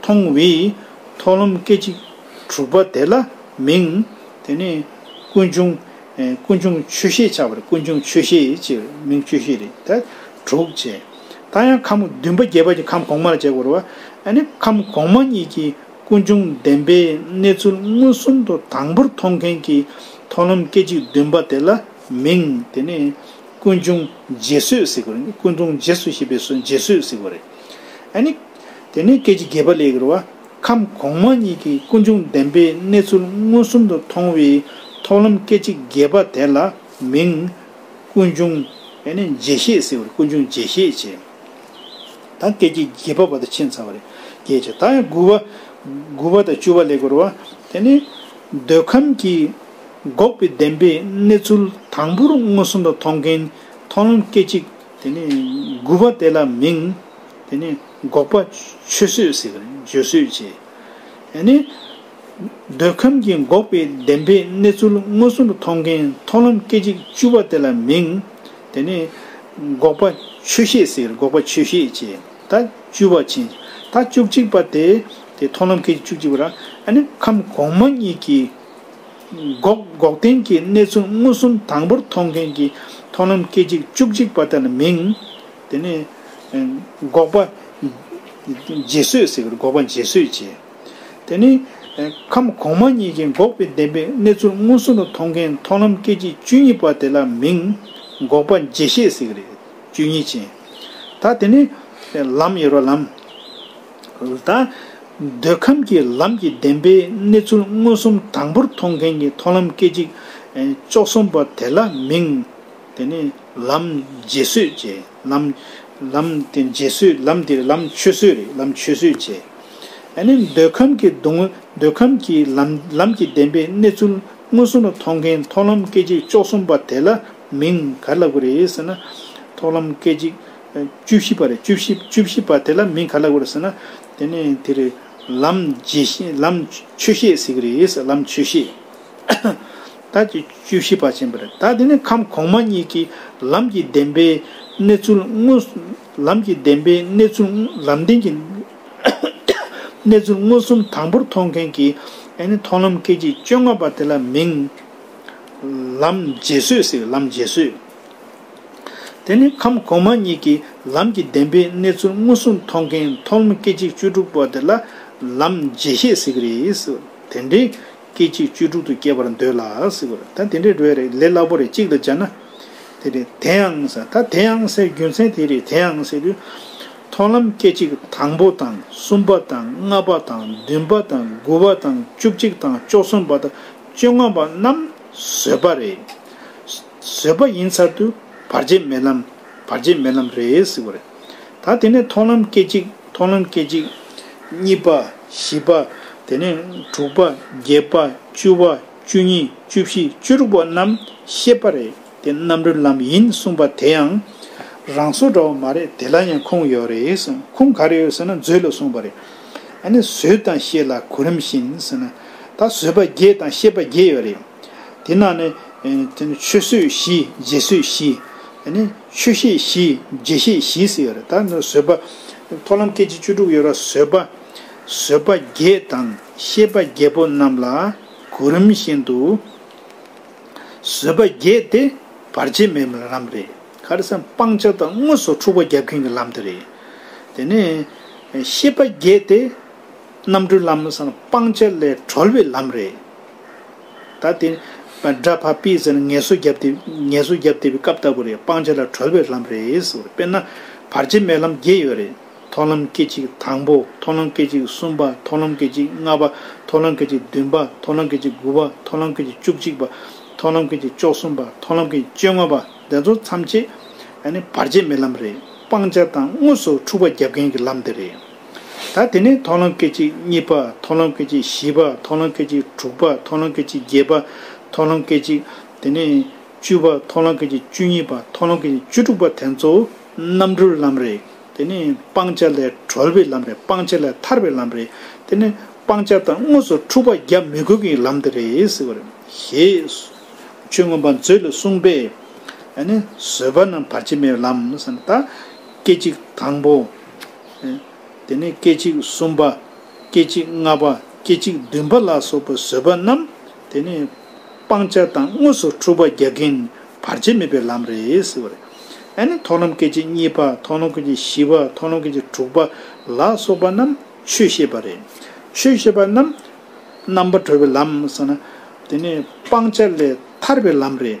མཐོང་བས་མཐོང་ལམ་སྐད་ཅིག་དྲུག་པ་དེ་ལ་མིང། དེ་ནས་ཀུན་འབྱུང། ཀུན་འབྱུང་ཆོས་ཤེས་ཆགས་པར་ཀུན་འབྱུང་ཆོས་ཤེས་ཅེས་པའི་མིང་ཆོས་ཤེས་རེད་དེ། དྲུག་བྱས། ད་ཡང་ཁམས་བདུན་པ་རྒྱས་པ་གྱི་ཁམས་གོང་མ་ལ་བྱེད་དགོས་རོ། ཨ་ནི་ཁམས་གོང་མ་གཉིས་ཀྱི་ཀུན་འབྱུང་བདེན་པའི་གནས་ཚུལ་མངོན་སུམ་དུ་དང་པོར་མཐོང་མཁན་གྱི་མཐོང་ལམ་སྐད་ཅིག་བདུན་པ་དེ་ལ་མིང། དེ་ནས་ཀུན་འབྱུང་རྗེས་བཟོད་ཟེར་དགོས་རེད། ཀུན་འབྱུང་རྗེས་བཟོད་ཞེས་པའི་རྗེས་བཟོད་ཟེར་དགོས་རེད། ཨ་ནི། དེ་ནས་སྐད་ཅིག་རྒྱས་པ་ལས་གྱུར་བ་ཁམས་གོང་མ་གཉིས་ཀྱི་ཀུན་འབྱུང་བདེན་པའི་གནས་ཚུལ་མངོན་སུམ་དུ་མཐོང་བའི་ཐོབ་ལམ་སྐད་ཅིག་རྒྱས་པ་དེ་ལ་མིང། ཀུན་འབྱུང། རྗེས་ཤེས་ཟེར་བར་ཀུན་འབྱུང་རྗེས་ཤེས་ཅེས་དང་སྐད་ཅིག་རྒྱས་པ་བ་དང་ཕྱེད་མཚམས་རེ་རྒྱས་ཅེས་དང་ཡང་དགུ་བ། དགུ་བ་དང་བཅུ་བ་ལས་གྱུར་བ། དེ་ནས་འདོད་ཁམས་ཀྱི་འགོག་པའི་བདེན་པའི་གནས་ཚུལ་དང་པོར་མངོན་སུམ་དུ་མཐོང་མཁན་ཐོབ་ལམ་སྐད་ཅིག་དེ་ནས་དགུ་བ་དེ་ལ་མིང། དེ་ནི་འགོག་པ། ཆུད་ཟོས་ཟེར་བ་ནི་འཇུ་ཟོས་བྱེད། ཡང་ནི། འདོད་ཁམས་ཀྱི་འགོག་པའི་བདེན་པའི་གནས་ཚུལ་མངོན་སུམ་དུ་མཐོང་མཁན་མཐོང་ལམ་སྐད་ཅིག་བཅུ་པ་དེ་ལ་མིང། དེ་ནི། འགོག་པ། ཆོས་ཤེས་ཟེར་འགོག་པ་ཆོས་ཤེས་བྱེད། ད་བཅུ་བ་ཕྱིན། ད་བཅུ་གཅིག་པ་དེ། དེ་མཐོང་ལམ་སྐད་ཅིག་བཅུ་གཅིག་པ་ར། ཡང་ནི་ཁམས་གོང་མ་གཉིས་ཀྱི། འགོག། འགོག་བདེན་གྱི་གནས་ཚུལ་མངོན་སུམ་དང་པོར་མཐོང་མཁན་གྱི་མཐོང་ལམ་སྐད་ཅིག་བཅུ་གཅིག་པ་དེ་ལ་མིང། དེ་ནས། འགོག་པ། རྗེས་སོད་ཟེར་བའི་འགོག་པ་རྗེས་སོད་ཅེས། དེ་ནི། ཁམས་གོང་མ་གཉིས་ཀྱི་འགོག་པའི་བདེན་པའི་གནས་ཚུལ་མངོན་སུམ་དུ་མཐོང་མཁན་མཐོང་ལམ་སྐད་ཅིག་བཅུ་གཉིས་པ་དེ་ལ་མིང། འགོག་པ་རྗེས་ཤེས་ཟེར་བའི་བཅུ་གཉིས་ཅན། ད་དེ་ནི། ལམ་ཡོད་པ་ལམ། ད། འདོད་ཁམས་ཀྱི་ལམ་གྱི་བདེན་པའི་གནས་ཚུལ་མངོན་སུམ་དང་པོར་མཐོང་མཁན་གྱི་མཐོང་ལམ་སྐད་ཅིག། བཅུ་གསུམ་པ་དེ་ལ་མིང། དེ་ནས་ལམ་རྗེས་བཟོད་བྱས། ལམ། ལམ་དེ་རྗེས་བཟོད་ལམ་དེ་རེད་ལམ་ཆོས་བཟོད་རེད་ལམ་ཆོས་བཟོད་བྱས། དེ་ནས་འདོད་ཁམས་ཀྱི་སྡུག་བསྔལ་འདོད་ཁམས་ཀྱི་ལམ་ལམ་གྱི་བདེན་པའི་གནས་ཚུལ་མངོན་སུམ་ལ་མཐོང་མཁན་མཐོང་ལམ་སྐད་ཅིག་བཅོ་གསུམ་པ་དེ་ལ་མིང་ག་རེ་ལབ་དགོས་རེད་ཟེར་ན། མཐོང་ལམ་སྐད་ཅིག་བཅུ་བཞི་པ་རེད་བཅུ་བཞི་བཅུ་བཞི་པ་དེ་ལ་མིང་ག་ལབ་དགོས་རེད་ཟེར་ན། དེ་ནས་དེ་རེད་ལམ་རྗེས་ཤེས་ལམ་ཆོས་ཤེས་ཟེར་གི་རེད་ལམ་ཆོས་ཤེས། བདག་གི་བཅུ་བཞི་པ་བྱིན་པ་རེད་ད་དེ་ནས་ཁམས་གོང་མ་གཉིས་ཀྱིས་ལམ་གྱི་བདེན་པའི་གནས་ཚུལ་དངོས། ལམ་གྱི་བདེན་པའི་གནས་ཚུལ་ལམ་བདེན་གྱི་གནས་ཚུལ་མངོན་སུམ་དང་པོར་མཐོང་མཁན་གྱི་མཐོང་ལམ་སྐད་ཅིག་བཅོ་ལྔ་པ་དེ་ལ་མིང། ལམ་རྗེས་བཟོད་ཟེར་ལམ་རྗེས་བཟོད། དེ་ནས་ཁམས་གོང་མ་གཉིས་ཀྱིས་ལམ་གྱི་བདེན་པའི་གནས་ཚུལ་མངོན་སུམ་མཐོང་མཁན་མཐོང་ལམ་སྐད་ཅིག་བཅུ་དྲུག་པ་དེ་ལ་ལམ་རྗེས་ཤེས་ཟེར་གྱི་རེད། དེ་འདྲའི། སྐད་ཅིག་བཅུ་དྲུག་ཏུ་བསྐྱེད་པར་འདོད་ལ། ད་དེ་འདྲའི་འགྲོ་ཡ་རེད་ལས་སླ་པོ་རེད་གཅིག་ལ་སྦྱར་ན། དེ་རེད་དེའང་ཟེར་ད་དེའང་ཟེར་རྒྱུ་མཚན་དེ་རེད་དེའང་ཟེར་དུས། མཐོང་ལམ་སྐད་ཅིག་དང་པོ་དང་གསུམ་པ་དང་ལྔ་པ་དང་བདུན་པ་དང་དགུ་བ་དང་བཅུ་གཅིག་དང་བཅུ་གསུམ་པ་དང་བཅོ་ལྔ་པ་རྣམས་བཟོད་པ་རེད། བཟོད་པ་ཡིན་ཚར་དུས་བར་ཆད་མེད་ལམ། བར་ཆད་མེད་ལམ་རེད་ཟེར་བ་རེད། ད་དེ་ནས་མཐོང་ལམ་སྐད་ཅིག་མཐོང་ལམ་སྐད་ཅིག། གཉིས་པ། བཞི་པ། དེ་ནས་དྲུག་པ། བརྒྱད་པ། བཅུ་བ། བཅུ་གཉིས། བཅུ་བཞི། བཅུ་དྲུག་པ་རྣམས་ཤེས་པ་རེད་དེ་རྣམ་རོལ་ལམ་ཡིན་གསུངས་པ་དེ་ཡང། རང་སོ་འདྲ་བ་མ་རེད་དེ་ལ་ཡང་ཁུངས་ཡོད་རེད་གསུངས་ཁུངས་ག་རེ་ཡོད་ཟེར་ན་མཛོད་ལ་གསུངས་པ་རེད། ཨ་ནི་བཟོད་དང་ཤེས་ལ་གོ་རིམ་བཞིན་ཟེར་ན། ད་བཟོད་པ་བརྒྱད་དང་ཤེས་པ་བརྒྱད་ཡོད་རེད། དེ་ནང་ནས། ཆོས་སྲོལ་བཞི་རྗེས་སྲོལ་བཞི། ཆོས་ཤེས་བཞི་རྗེས་ཤེས་བཞི་ཟེར་ཡོད་རེད་ད། བཟོད་པ། མཐོང་ལམ་སྐད་ཅིག་བཅུ་དྲུག་ཡོད་ར་བཟོད་པ། བཟོད་པ་བརྒྱད་དང་ཤེས་པ་བརྒྱད་པོ་རྣམས་ལ་གོ་རིམ་བཞིན་དུ། བཟོད་པ་བརྒྱད་དེ་བར་ཆད་མེད་པའི་ལམ་རེད། ག་རེ་ས་སྤང་བྱ་དང་དངོས་སུ་འཁྲུག་པ་རྒྱབ་མཁན་གྱི་ལམ་དེ་རེད། དེ་ནས། ཤེས་པ་བརྒྱད་དེ། རྣམ་གྲོལ་ལམ་སྤང་བྱ་ལས་གྲོལ་བའི་ལམ་རེད། ད་དེ། སྒྲ་ཕ་པི་ཟེར་ངལ་གསོ་རྒྱབ་དེ་ངལ་གསོ་རྒྱབ་དེ་པའི་སྐབས་ལྟ་བུ་རེད་སྤང་བྱ་ལ་གྲོལ་བའི་ལམ་རེད་ཟེར་བ་རེད་དཔེར་ན། བར་ཆད་མེད་ལམ་བརྒྱད་ཡོད་རེད་མཐོང་ལམ་སྐད་ཅིག་དང་པོ་མཐོང་ལམ་སྐད་ཅིག་གསུམ་པ་མཐོང་ལམ་སྐད་ཅིག་ལྔ་པ་མཐོང་ལམ་སྐད་ཅིག་བདུན་པ་མཐོང་ལམ་སྐད་ཅིག་དགུ་པ་མཐོང་ལམ་སྐད་ཅིག་བཅུ་གཅིག་པ་མཐོང་ལམ་སྐད་ཅིག་བཅོ་གསུམ་པ་མཐོང་ལམ་སྐད་ཅིག་བཅོ་ལྔ་པ་དེ་ཚོ་མཚམས་བཅད། བར་ཆད་མེད་ལམ་རེད་སྤང་བྱ་དང་དངོས་སུ་འཁྲུག་པ་རྒྱབ་མཁན་གྱི་ལམ་དེ་རེད། ད་དེ་ནས་མཐོང་ལམ་སྐད་ཅིག་གཉིས་པ་མཐོང་ལམ་སྐད་ཅིག་བཞི་པ་མཐོང་ལམ་སྐད་ཅིག་དྲུག་པ་མཐོང་ལམ་སྐད་ཅིག་བརྒྱད་པ་མཐོང་ལམ་སྐད་ཅིག་དེ་ནས་བཅུ་པ་མཐོང་ལམ་སྐད་ཅིག་བཅུ་གཉིས་པ་མཐོང་ལམ་སྐད་ཅིག་བཅུ་དྲུག་པ་དེ་ཚོ་རྣམ་གྲོལ་ལམ་རེད་དེ་ནས་སྤང་བྱ་ལས་གྲོལ་བའི་ལམ་རེད་སྤང་བྱ་ལས་ཐར་བའི་ལམ་རེད་དེ་ནས་སྤང་བྱ་དང་དངོས་སུ་འཁྲུག་པ་རྒྱག་མི་དགོས་ཀྱི་ལམ་དེ་རེད་ཟེར་བ་རེད། ཞེས་ཆོས་མངོན་པ་མཛོད་ལས་གསུངས་པས། ཨ་ནི་བཟོད་པ་རྣམས་བར་ཆད་མེད་པའི་ལམ་བསམ་པ་ད། སྐད་ཅིག་དང་པོ། དེ་ནས་སྐད་ཅིག་གསུམ་པ། སྐད་ཅིག་ལྔ་པ། སྐད་ཅིག་བདུན་པ་ལ་སོགས་པའི་བཟོད་པ་རྣམས་དེ་ནས་སྤང་བྱ་དང་དངོས་སུ་འཁྲུལ་པ་རྒྱག་གིན་བར་ཆད་མེད་པའི་ལམ་རེད། ཨ་ནི་ཐོག་ལམ་སྐད་ཅིག་གཉིས་པ། ཐོག་ལམ་སྐད་ཅིག་བཞི་པ། ཐོག་ལམ་སྐད་ཅིག་དྲུག་པ་ལ་སོགས་པ་རྣམས་ཆོས་ཤེས་པ་རེད། ཆོས་ཤེས་པ་རྣམས་རྣམ་པར་གྲོལ་བའི་ལམ། དེ་ནས་སྤང་བྱ་ལས་ཐར་བའི་ལམ་རེད།